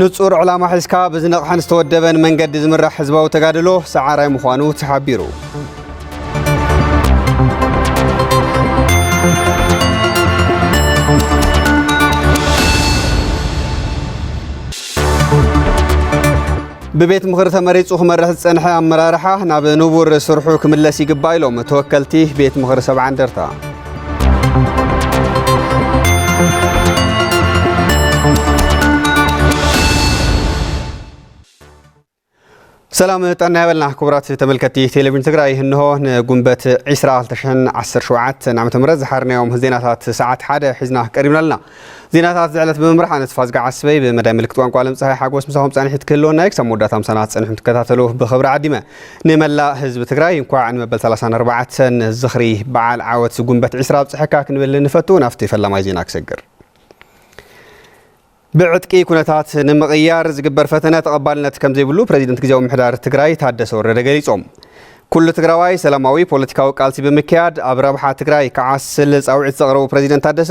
ንፁር ዕላማ ሒዝካ ብዝነቕሐን ዝተወደበን መንገዲ ዝምራሕ ህዝባዊ ተጋድሎ ሰዓራይ ምዃኑ ተሓቢሩ። ብቤት ምኽሪ ተመሪፁ ክመርሕ ዝፀንሐ ኣመራርሓ ናብ ንቡር ስርሑ ክምለስ ይግባእ ኢሎም ተወከልቲ ቤት ምኽሪ ሰብዓ እንደርታ። ሰላም ጠና ያበልና ክቡራት ተመልከቲ ቴሌቪዥን ትግራይ እንሆ ንጉንበት 20 2017 ዓ ም ዝሓርናዮም ዜናታት ሰዓት ሓደ ሒዝና ቀሪብና ኣለና ዜናታት እዚ ዕለት ብምምራሕ ኣነ ተስፋዝጊ ዓስበይ ብመዳይ ምልክት ቋንቋ ዓለም ፀሃይ ሓጎስ ምሳኹም ፀኒሒት ክህልወና እዩ ክሳብ መወዳእታ ምሳና ክትፀንሑ ትከታተሉ ብኽብሪ ዓዲመ ንመላእ ህዝቢ ትግራይ እንኳዕ ንመበል 34 ዝኽሪ በዓል ዓወት ጉንበት ዒስራ ኣብፅሐካ ክንብል ንፈቱ ናፍቲ ፈላማይ ዜና ክሰግር ብዕጥቂ ኩነታት ንምቕያር ዝግበር ፈተነ ተቐባልነት ከም ዘይብሉ ፕሬዚደንት ግዜያዊ ምሕዳር ትግራይ ታደሰ ወረደ ገሊፆም ኩሉ ትግራዋይ ሰላማዊ ፖለቲካዊ ቃልሲ ብምክያድ ኣብ ረብሓ ትግራይ ክዓስል ፃውዒት ዘቕረቡ ፕሬዚደንት ታደሰ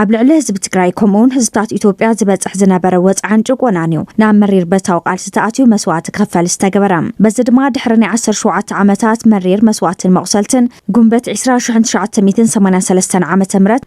ኣብ ልዕሊ ህዝቢ ትግራይ ከምኡውን ህዝብታት ኢትዮጵያ ዝበፅሕ ዝነበረ ወፅዓን ጭቆናን እዩ ናብ መሪር በታዊ ቃልሲ ተኣትዩ መስዋእቲ ክኽፈል ዝተገበረ በዚ ድማ ድሕሪ ናይ 17 ዓመታት መሪር መስዋእትን መቑሰልትን ጉንበት 20983 ዓ ም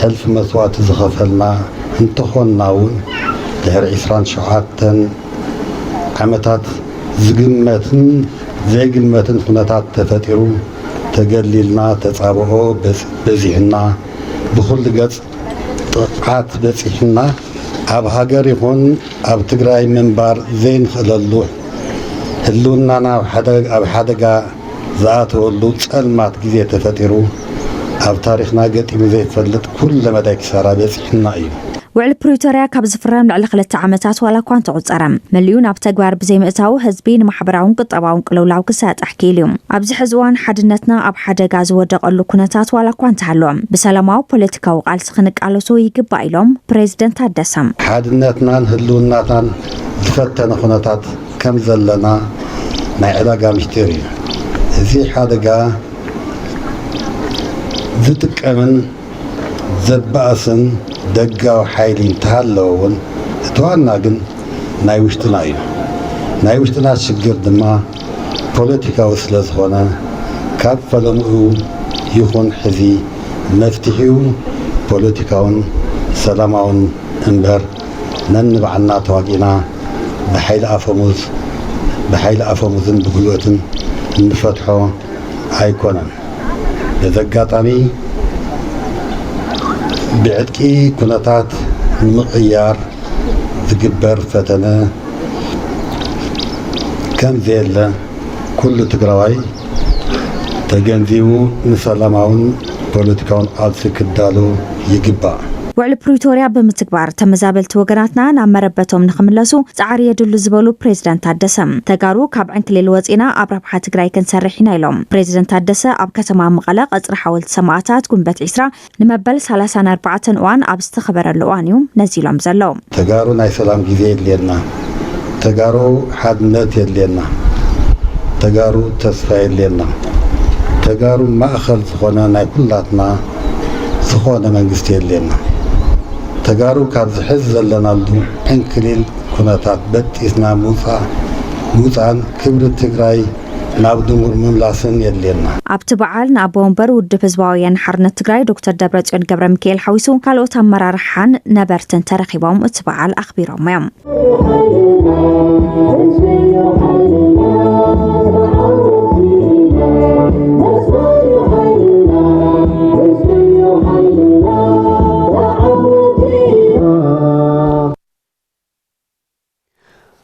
ሕልፊ መስዋእቲ ዝኸፈልና እንተኾንና እውን ድሕሪ ዕስራን ሸውዓተን ዓመታት ዝግመትን ዘይግመትን ኹነታት ተፈጢሩ ተገሊልና ተፃብኦ በዚሑና ብኹሉ ገፅ ጥቕዓት በፂሑና ኣብ ሃገር ይኹን ኣብ ትግራይ ምንባር ዘይንኽእለሉ ህልውናና ኣብ ሓደጋ ዝኣተወሉ ጸልማት ግዜ ተፈጢሩ፣ ኣብ ታሪኽና ገጢሙ ዘይፈልጥ ኩለ መዳይ ክሳራ በጺሑና እዩ። ውዕሊ ፕሪቶርያ ካብ ዝፍረም ልዕሊ ክልተ ዓመታት ዋላ እኳ እንተቑጸረ፣ መሊኡ ናብ ተግባር ብዘይምእታዉ ህዝቢ ንማሕበራውን ቁጠባውን ቅልውላው ክሳጣሕ ክኢሉ እዩ። ኣብዚ ሕዚ እዋን ሓድነትና ኣብ ሓደጋ ዝወደቐሉ ኩነታት ዋላ እኳ እንተሃለወ፣ ብሰላማዊ ፖለቲካዊ ቃልሲ ክንቃለሶ ይግባእ ኢሎም ፕረዚደንት ታደሰ። ሓድነትናን ህልውናትናን ዝፈተነ ኩነታት ከም ዘለና ናይ ዕዳጋ ምስጢር እዩ። እዚ ሓደጋ ዝጥቀምን ዘባእስን ደጋዊ ሓይሊ እንተሃለወ እውን እቲ ዋና ግን ናይ ውሽጥና እዩ። ናይ ውሽጥና ሽግር ድማ ፖለቲካዊ ስለዝኾነ ካብ ፈለምኡ ይኹን ሕዚ መፍትሒኡ ፖለቲካውን ሰላማውን እምበር፣ ነንባዕልና ተዋጊእና ብሓይሊ ኣፈሙዝ ብሓይሊ ኣፈሙዝን ብጉልበትን እንፈትሖ ኣይኮነን። በዚ ኣጋጣሚ ብዕጥቂ ኩነታት ንምቕያር ዝግበር ፈተነ ከምዘየለ ኩሉ ትግራዋይ ተገንዚቡ ንሰላማውን ፖለቲካውን ቃልሲ ክዳሎ ይግባእ። ውዕሊ ፕሪቶርያ ብምትግባር ተመዛበልቲ ወገናትና ናብ መረበቶም ንክምለሱ ፃዕሪ የድሉ ዝበሉ ፕሬዝደንት ታደሰ፣ ተጋሩ ካብ ዕንክሊል ወፂእና ኣብ ረብሓ ትግራይ ክንሰርሕ ኢና ኢሎም። ፕሬዝደንት ታደሰ ኣብ ከተማ መቐለ ቀፅሪ ሓወልቲ ሰማእታት ጉንበት ዒስራ ንመበል ሰላሳን ኣርባዕተን እዋን ኣብ ዝተኸበረሉ እዋን እዩ ነዚ ኢሎም ዘለዉ። ተጋሩ ናይ ሰላም ግዜ የድልየና ተጋሩ ሓድነት የድልየና ተጋሩ ተስፋ የድልየና ተጋሩ ማእኸል ዝኾነ ናይ ኩላትና ዝኾነ መንግስቲ የድልየና ተጋሩ ካብዚ ሕዚ ዘለናሉ ዕንክሊል ኩነታት በጢስና ምውፃእን ክብሪ ትግራይ ናብ ድንጉር ምምላስን የድልየና። ኣብቲ በዓል ንኣቦ ወንበር ውድብ ህዝባዊ ወያነ ሓርነት ትግራይ ዶክተር ደብረፅዮን ገብረሚካኤል ሓዊሱ ካልኦት ኣመራርሓን ነበርትን ተረኺቦም እቲ በዓል ኣኽቢሮሞ እዮም።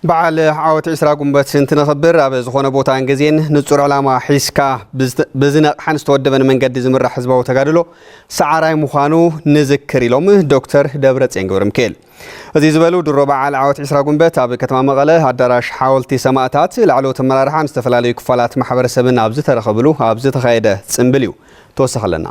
በዓል ዓወት ዕስራ ጉንበት እንትነኽብር ኣብ ዝኾነ ቦታን ግዜን ንጹር ዕላማ ሒዝካ ብዝነቕሓን ዝተወደበን መንገዲ ዝምራሕ ህዝባዊ ተጋድሎ ሰዓራይ ምዃኑ ንዝክር ኢሎም ዶክተር ደብረጽዮን ገብረሚካኤል እዚ ዝበሉ ድሮ በዓል ዓወት ዕስራ ጉንበት ኣብ ከተማ መቐለ ኣዳራሽ ሓወልቲ ሰማእታት ላዕለዎት ኣመራርሓን ዝተፈላለዩ ክፋላት ማሕበረሰብን ኣብ ዝተረኸብሉ ኣብ ዝተኻየደ ጽምብል እዩ ተወሳኺ ኣለና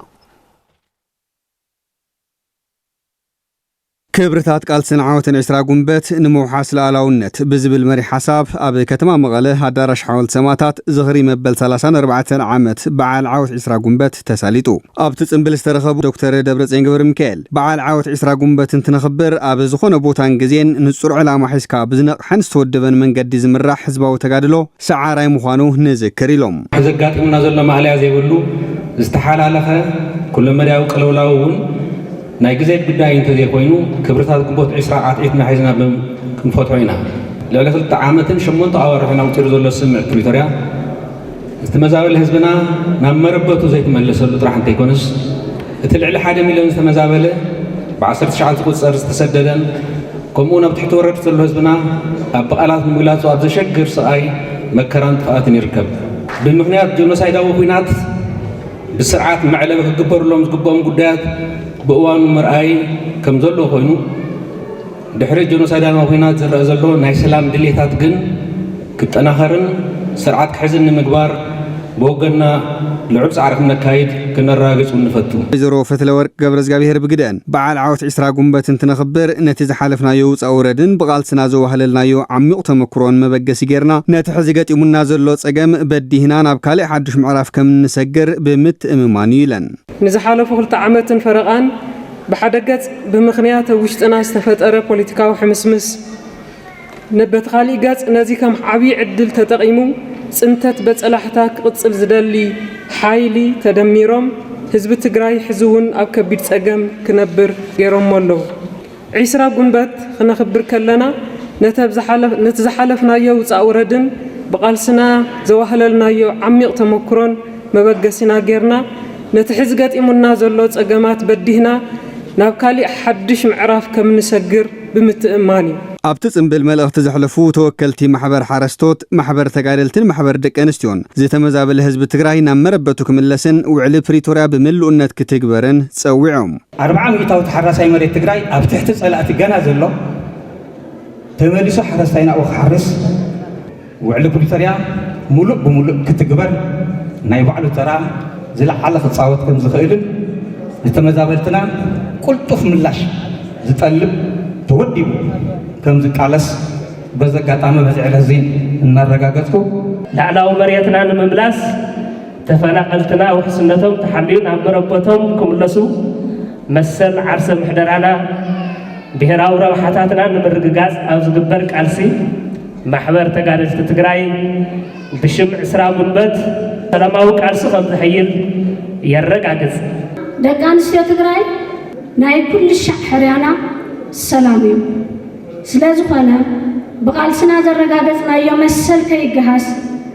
ክብርታት ቃልስን ዓወትን ዕስራ ጉንበት ንምውሓስ ልኣላውነት ብዝብል መሪሕ ሓሳብ ኣብ ከተማ መቐለ ኣዳራሽ ሓወልቲ ሰማእታት ዝኽሪ መበል ሰላሳን ኣርባዕተን ዓመት በዓል ዓወት ዕስራ ጉንበት ተሳሊጡ። ኣብቲ ፅምብል ዝተረኸቡ ዶክተር ደብረፅዮን ገብረሚካኤል በዓል ዓወት ዕስራ ጉንበት እንትነኽብር ኣብ ዝኾነ ቦታን ግዜን ንፁር ዕላማ ሒዝካ ብዝነቕሐን ዝተወደበን መንገዲ ዝምራሕ ህዝባዊ ተጋድሎ ሰዓራይ ምዃኑ ንዝክር ኢሎም። ሕዚ ኣጋጢሙና ዘሎ ማእለያ ዘይብሉ ዝተሓላለኸ ኩለመዳያዊ ቅልውላው እውን፣ ናይ ግዜ ጉዳይ እንተዘይኮይኑ ክብርታት ግንቦት ዕስራ ዓትዒትና ሒዝና ክንፈትሖ ኢና። ልዕሊ ክልተ ዓመትን ሸሞንተ ኣዋርሕን ኣቁጺሩ ዘሎ ስምምዕ ፕሪቶርያ እቲ መዛበሊ ህዝብና ናብ መረበቱ ዘይተመለሰሉ ጥራሕ እንተይኮነስ እቲ ልዕሊ ሓደ ሚልዮን ዝተመዛበለ ብዓሰርተ ሽዓት ዝቁጸር ዝተሰደደን ከምኡውን ኣብ ትሕቲ ወረርቲ ዘሎ ህዝብና ኣብ ብቃላት ንምግላጹ ኣብ ዘሸግር ስቃይ መከራን ጥፍኣትን ይርከብ። ብምክንያት ጆኖሳይዳዊ ኩናት፣ ብስርዓት መዕለቢ ክግበርሎም ዝግበኦም ጉዳያት ብእዋኑ ምርኣይ ከም ዘሎ ኮይኑ ድሕሪ ጀኖሳይዳዊ ኩናት ዝረአ ዘሎ ናይ ሰላም ድሌታት ግን ክጠናኸርን ስርዓት ክሕዝን ንምግባር ብወገንና ልዑል ፃዕሪ ክነካይድ ክነረጋግፅ እውን ንፈቱ። ወይዘሮ ፈትለወርቅ ገብረዝጋብሄር ብግደኣን፣ በዓል ዓወት ዕስራ ጉንበት እንትነኽብር፣ ነቲ ዝሓለፍናዮ ውፃ-ውረድን ብቓልስና ዘዋህለልናዮ ዓሚዩቕ ተመኩሮን መበገሲ ገይርና፣ ነቲ ሕዚ ገጢሙና ዘሎ ፀገም በዲህና ናብ ካሊእ ሓዱሽ ምዕራፍ ከም እንሰግር ብምትእምማን እዩ ኢለን። ንዝሓለፉ ክልተ ዓመትን ፈረቓን ብሓደ ገፅ ብምኽንያት ኣብ ውሽጥና ዝተፈጠረ ፖለቲካዊ ሕምስምስ፣ በቲ ካሊእ ገፅ ነዚ ከም ዓብዪ ዕድል ተጠቒሙ ፅንተት በፀላሕታ ክቕፅል ዝደሊ ሓይሊ ተደሚሮም ህዝቢ ትግራይ ሕዚ እውን ኣብ ከቢድ ፀገም ክነብር ገይሮሞ ኣለው። ዒስራ ጉንበት ኽነኽብር ከለና ነቲ ዝሓለፍናዮ ውፃእ ውረድን ብቓልስና ዘዋህለልናዮ ዓሚቕ ተሞክሮን መበገሲና ገይርና ነቲ ሕዚ ገጢሙና ዘሎ ፀገማት በዲህና ናብ ካሊእ ሓዱሽ ምዕራፍ ከምንሰግር ብምትእምማን እዩ። ኣብቲ ፅምብል መልእኽቲ ዘሕለፉ ተወከልቲ ማሕበር ሓረስቶት፣ ማሕበር ተጋደልትን ማሕበር ደቂ ኣንስትዮን ዝተመዛበለ ህዝቢ ትግራይ ናብ መረበቱ ክምለስን ውዕሊ ፕሪቶርያ ብምልኡነት ክትግበርን ፀዊዖም። ኣርብዓ ሚኢታዊ ተሓራሳይ መሬት ትግራይ ኣብ ትሕቲ ፀላእቲ ገና ዘሎ ተመሊሱ ሓረስታይ ናብኡ ክሓርስ፣ ውዕሊ ፕሪቶርያ ሙሉእ ብሙሉእ ክትግበር ናይ ባዕሉ ተራ ዝለዓለ ክፃወት ከምዝኽእልን ንተመዛበልትና ቁልጡፍ ምላሽ ዝጠልብ ተወዲቡ ከምዝቃለስ በዚ ኣጋጣሚ በዚ ዕለት እዚ እናረጋገፅኩ ላዕላዊ መሬትና ንምምላስ ተፈናቐልትና ውሕስነቶም ተሓልዩ ናብ መረበቶም ክምለሱ፣ መሰል ዓርሰ ምሕደራና፣ ብሄራዊ ረብሓታትና ንምርግጋፅ ኣብ ዝግበር ቃልሲ ማሕበር ተጋደልቲ ትግራይ ብሽም ዕስራ ጉንበት ሰላማዊ ቃልሱ ከምዘሕይል የረጋግፅ። ደቂ ኣንስትዮ ትግራይ ናይ ኩልሻዕ ሕርያና ሰላም እዩ። ስለዝኾነ ብቓልስና ዘረጋገፅናዮ መሰል ከይገሃስ፣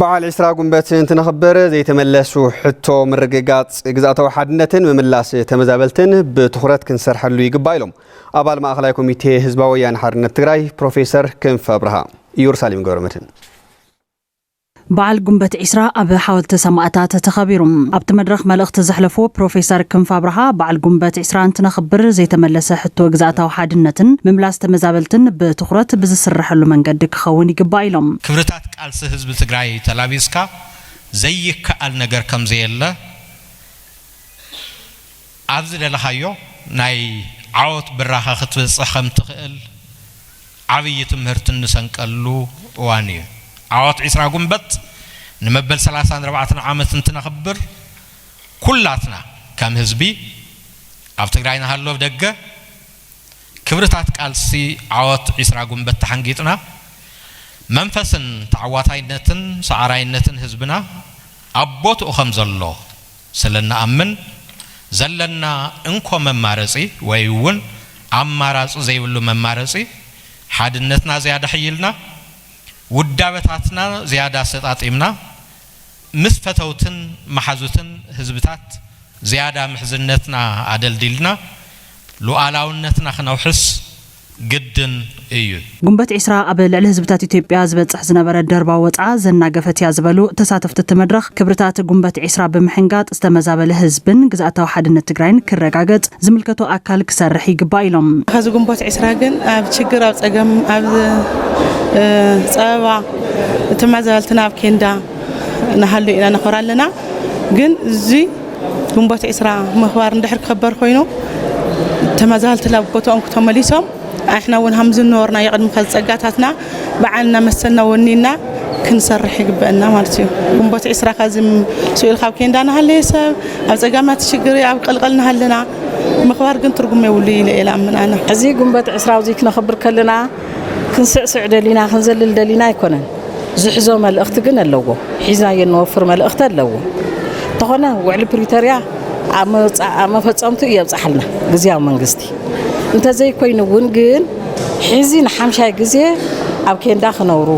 በዓል ዕስራ ጉንበት እንትነኽብር ዘይተመለሱ ሕቶ ምርግጋፅ ግዝኣታዊ ሓድነትን ምምላስ ተመዛበልትን ብትኹረት ክንሰርሐሉ ይግባእ ኢሎም ኣባል ማእኸላይ ኮሚቴ ህዝባዊ ወያነ ሓርነት ትግራይ ፕሮፌሰር ክንፈ ኣብርሃ ኢየሩሳሌም ገብረመድህን በዓል ጉንበት ዒስራ ኣብ ሓወልቲ ሰማእታት ተኸቢሩ። ኣብቲ መድረኽ መልእኽቲ ዘሕለፉ ፕሮፌሰር ክንፈ ኣብርሃ በዓል ጉንበት ዒስራ እንትነኽብር ዘይተመለሰ ሕቶ ግዝኣታዊ ሓድነትን ምምላስ ተመዛበልትን ብትኹረት ብዝስረሐሉ መንገዲ ክኸውን ይግባእ ኢሎም። ክብርታት ቃልሲ ህዝቢ ትግራይ ተላቢስካ ዘይከኣል ነገር ከምዘየለ ኣብ ዝደለኻዮ ናይ ዓወት ብራኸ ክትበፅሕ ከምትኽእል ዓብዪ ትምህርቲ እንሰንቀሉ እዋን እዩ። ዓወት ዕስራ ጉንበት ንመበል ሰላሳን ኣርባዕተን ዓመት እንትነኽብር ኩላትና ከም ህዝቢ ኣብ ትግራይ ንሃሉ ኣብ ደገ፣ ክብርታት ቃልሲ ዓወት ዒስራ ጉንበት ተሓንጊጥና መንፈስን ተዓዋታይነትን ሰዓራይነትን ህዝብና ኣብ ቦትኡ ከም ዘሎ ስለ እንኣምን ዘለና እንኮ መማረፂ ወይ እውን ኣማራፂ ዘይብሉ መማረፂ ሓድነትና ዝያዳ ኣሕይልና ውዳበታትና ዝያዳ ኣሰጣጢምና ምስ ፈተውትን መሓዙትን ህዝብታት ዝያዳ ምሕዝነትና ኣደልዲልና ሉኣላውነትና ክነውሕስ ግድን እዩ። ጉንበት ዕስራ ኣብ ልዕሊ ህዝብታት ኢትዮጵያ ዝበፅሕ ዝነበረ ደርባዊ ወፅዓ ዘናገፈት እያ ዝበሉ ተሳተፍቲ እቲ መድረኽ፣ ክብርታት ጉንበት ዕስራ ብምሕንጋጥ ዝተመዛበለ ህዝብን ግዝኣታዊ ሓድነት ትግራይን ክረጋገፅ ዝምልከቶ ኣካል ክሰርሕ ይግባእ ኢሎም። ሐዚ ጉንቦት ዕስራ ግን ኣብ ችግር ኣብ ፀገም ኣብ ፀበባ ተመዛበልትና ኣብ ኬንዳ ንሃሉ ኢና ነኾር ኣለና ግን እዚ ግንቦት ዒስራ ምኽባር እንድሕር ክኽበር ኮይኑ ተመዛበልቲ ናብ ቦትኦም ክተመሊሶም ኣሕና እውን ሃም ዝነበርና የቕድሚ ከዝፀጋታትና በዓልና መሰልና ወኒና ክንሰርሕ ይግበአና ማለት እዩ ግንቦት ዒስራ ካዚ ስኢል ካብ ኬንዳ ንሃለየ ሰብ ኣብ ፀጋማት ሽግር ኣብ ቀልቀል ንሃለና ምኽባር ግን ትርጉም የብሉ ኢለ ኢለ ኣምን ኣነ እዚ ግንቦት ዕስራ እዙይ ክነኽብር ከለና ክንስዕስዕ ደሊና ክንዘልል ደሊና ኣይኮነን ዝሕዞ መልእኽቲ ግን ኣለዎ ሒዝናዮ እንወፍር መልእኽቲ ኣለዎ እንተኾነ ውዕሊ ፕሪቶርያ ኣብ መፈጸምቱ እየብጽሓልና ግዝያዊ መንግስቲ እንተዘይኮይኑ እውን ግን ሕዚ ንሓምሻይ ግዜ ኣብ ኬንዳ ክነብሩ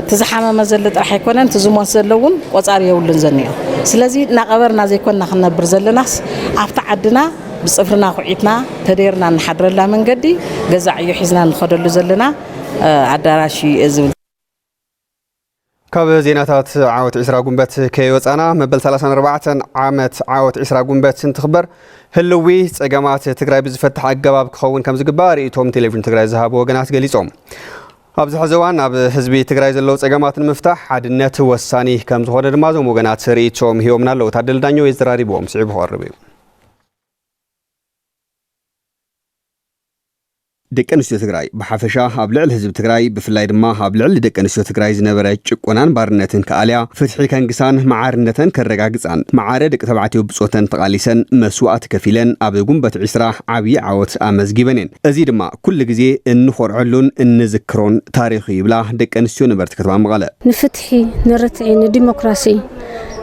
እቲ ዝሓመመ ዘለ ጥራሕ ኣይኮነን እቲ ዝሞት ዘሎ እውን ቆጻሪ የብሉን ዘኒኦ ስለዚ እናቐበርና ዘይኮንና ክንነብር ዘለናስ ኣብቲ ዓድና ብጽፍርና ኩዒትና ተደይርና እንሓድረላ መንገዲ ገዛ ዕዮ ሒዝና እንኸደሉ ዘለና ኣዳራሽ እዩ እየ ዝብል። ካብ ዜናታት ዓወት ዒስራ ጉንበት ከይወፃና መበል 34 ዓመት ዓወት ዒስራ ጉንበት እንትኽበር ህልዊ ፀገማት ትግራይ ብዝፈትሕ ኣገባብ ክኸውን ከም ዝግባእ ርእይቶም ቴሌቪዥን ትግራይ ዝሃቡ ወገናት ገሊፆም። ኣብዚ ሕዚ እዋን ኣብ ህዝቢ ትግራይ ዘለዉ ፀገማት ንምፍታሕ ሓድነት ወሳኒ ከም ዝኾነ ድማ እዞም ወገናት ርእይቶኦም ሂቦምና ኣለዉ። ታደለ ዳኘው የዘራሪብዎም ስዒቡ ክቐርብ እዩ። ደቂ ኣንስትዮ ትግራይ ብሓፈሻ ኣብ ልዕሊ ህዝቢ ትግራይ ብፍላይ ድማ ኣብ ልዕሊ ደቂ ኣንስትዮ ትግራይ ዝነበረ ጭቆናን ባርነትን ክኣልያ ፍትሒ ከንግሳን መዓርነተን ከረጋግፃን መዓረ ደቂ ተባዕትዮ ብፆተን ተቓሊሰን መስዋእቲ ከፊለን ኣብ ጉንበት ዒስራ ዓብዪ ዓወት ኣመዝጊበን እየን። እዚ ድማ ኩሉ ግዜ እንኾርዐሉን እንዝክሮን ታሪኽ እዩ ይብላ ደቂ ኣንስትዮ ነበርቲ ከተማ መቐለ። ንፍትሒ፣ ንርትዒ፣ ንዲሞክራሲ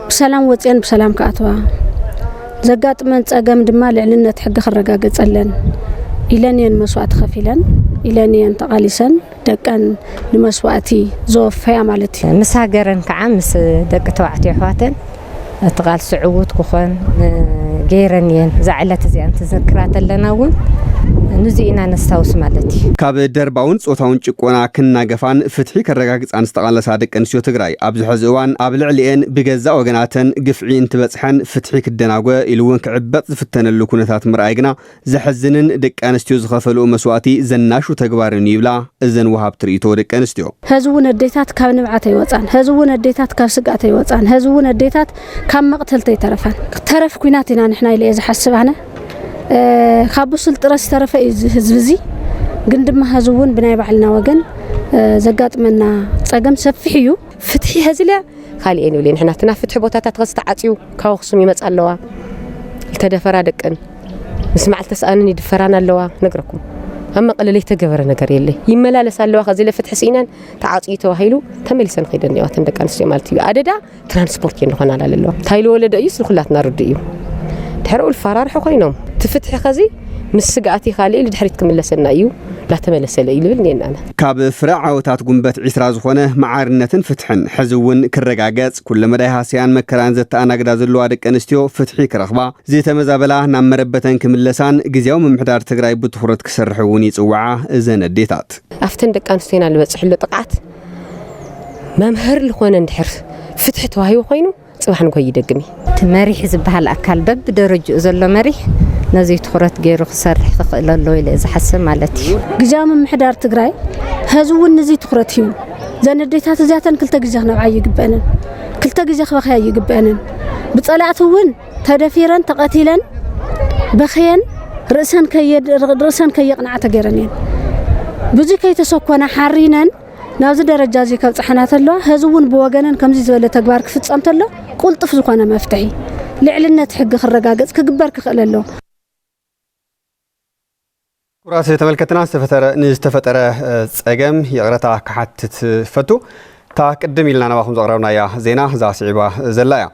ብሰላም ወፅየን ብሰላም ክኣትዋ ዘጋጥመን ፀገም ድማ ልዕልነት ሕጊ ክረጋገፀለን ኢለን እየን መስዋእቲ ከፊለን ኢለን እየን ተቓሊሰን ደቀን ንመስዋእቲ ዘወፈያ ማለት እዩ ምስ ሃገረን ከዓ ምስ ደቂ ተባዕትዮ ኣሕዋተን እቲ ቃልሲ ዕዉት ክኾን ገይረን እየን እዛ ዕለት እዚኣ እንትዝክራ ተለና እውን ንዚ ኢና ነስታውስ ማለት እዩ ካብ ደርባውን ፆታውን ጭቆና ክናገፋን ፍትሒ ከረጋግፃን ዝተቓለሳ ደቂ ኣንስትዮ ትግራይ ኣብዚ ሐዚ እዋን ኣብ ልዕሊኤን ብገዛእ ወገናተን ግፍዒ እንትበፅሐን ፍትሒ ክደናጎ ኢሉ እውን ክዕበጥ ዝፍተነሉ ኩነታት ምርኣይ ግና ዘሕዝንን ደቂ ኣንስትዮ ዝኸፈልኡ መስዋእቲ ዘናሹ ተግባርን እዩ ይብላ እዘን ወሃብቲ ርኢቶ ደቂ ኣንስትዮ። ሐዚ እውን ኣዴታት ካብ ንብዓት ኣይወፃን፣ ሐዚ እውን ኣዴታት ካብ ስግኣት ኣይወፃን፣ ሐዚ እውን ኣዴታት ካብ መቕተልቲ ኣይተረፋን። ተረፍ ኲናት ኢና ንሕና ኢለ እየ ዝሓስብ ኣነ። ካብ ብሱል ጥረ ዝተረፈ እዩ እዚ ህዝቢ እዚ ግን ድማ ሀዚ እውን ብናይ ባዕልና ወገን ዘጋጥመና ፀገም ሰፊሕ እዩ ፍትሒ ሀዚልያ ካልኤን ይብለ ንሕና እቲ ናብ ፍትሒ ቦታታት ኸዚ ተዓፅዩ ካብ ኣኽሱም ይመፃ ኣለዋ ዝተደፈራ ደቅን ምስ መዓልቲ ተስኣንን ይድፈራን ኣለዋ ነግረኩም ኣብ መቐለ ዘይተገበረ ነገር የለ ይመላለስ ኣለዋ ከዚ ለፍትሒ ስኢነን ተዓፅዩ ተባሂሉ ተመሊሰን ከይደን እዋተን ደቂ ኣንስትዮ ማለት እዩ ኣደዳ ትራንስፖርት እዩ ንኾን ኣላለለዎ እንታይ ልወለደ እዩስ ንኩላትና ርዱ እዩ ድሕሪኡ ልፈራርሑ ኮይኖም እቲ ፍትሒ ከዚ ምስ ስግኣቲ ካልእ ልድሕሪት ክምለሰና እዩ ላተመለሰለ እዩ ልብል ኔና ካብ ፍረ ዓወታት ጉንበት ዒስራ ዝኾነ መዓርነትን ፍትሕን ሕዚ እውን ክረጋገጽ ኩለ መዳይ ሃስያን መከራን ዘተኣናግዳ ዘለዋ ደቂ ኣንስትዮ ፍትሒ ክረኽባ ዝተመዛበላ ናብ መረበተን ክምለሳን ግዜያዊ ምምሕዳር ትግራይ ብትኹረት ክሰርሕ እውን ይጽውዓ እዘን ኣዴታት ኣብተን ደቂ ኣንስትዮና ልበጽሕሎ ጥቕዓት መምህር ልኾነ እንድሕር ፍትሒ ተዋሂቡ ኮይኑ ፅባሕ ንጎ ይደግም እዩ። እቲ መሪሕ ዝበሃል ኣካል በብደረጅኡ ዘሎ መሪሕ ነዙይ ትኹረት ገይሩ ክሰርሕ ክኽእል ኣለዎ ኢለ እየ ዝሓስብ ማለት እዩ። ግዝያዊ ምምሕዳር ትግራይ ሐዚ እውን ንዙይ ትኹረት ሂቡ እዘን ኣዴታት እዚኣተን ክልተ ግዜ ክነብዓ ኣይግበኣንን፣ ክልተ ግዜ ክበኽያ ኣይግበኣንን፣ ብፀላእቲ እውን ተደፊረን ተቐቲለን በኽየን ርእሰን ርእሰን ከየቕንዓ ተገይረን እየን ብዙ ከይተሰኮና ሓሪነን ናብዚ ደረጃ እዚ ከብፅሐና ተለዋ ህዚ እውን ብወገነን ከምዚ ዝበለ ተግባር ክፍፀም ተሎ ቁልጡፍ ዝኾነ መፍትሒ ልዕልነት ሕጊ ክረጋገፅ ክግበር ክኽእል ኣሎ ክቡራት ተመልከትና ዝተፈጠረ ንዝተፈጠረ ጸገም ይቕረታ ክሓትት ፈቱ እታ ቅድም ኢልና ናባኹም ዘቕረብናያ ዜና እዛ ስዒባ ዘላ እያ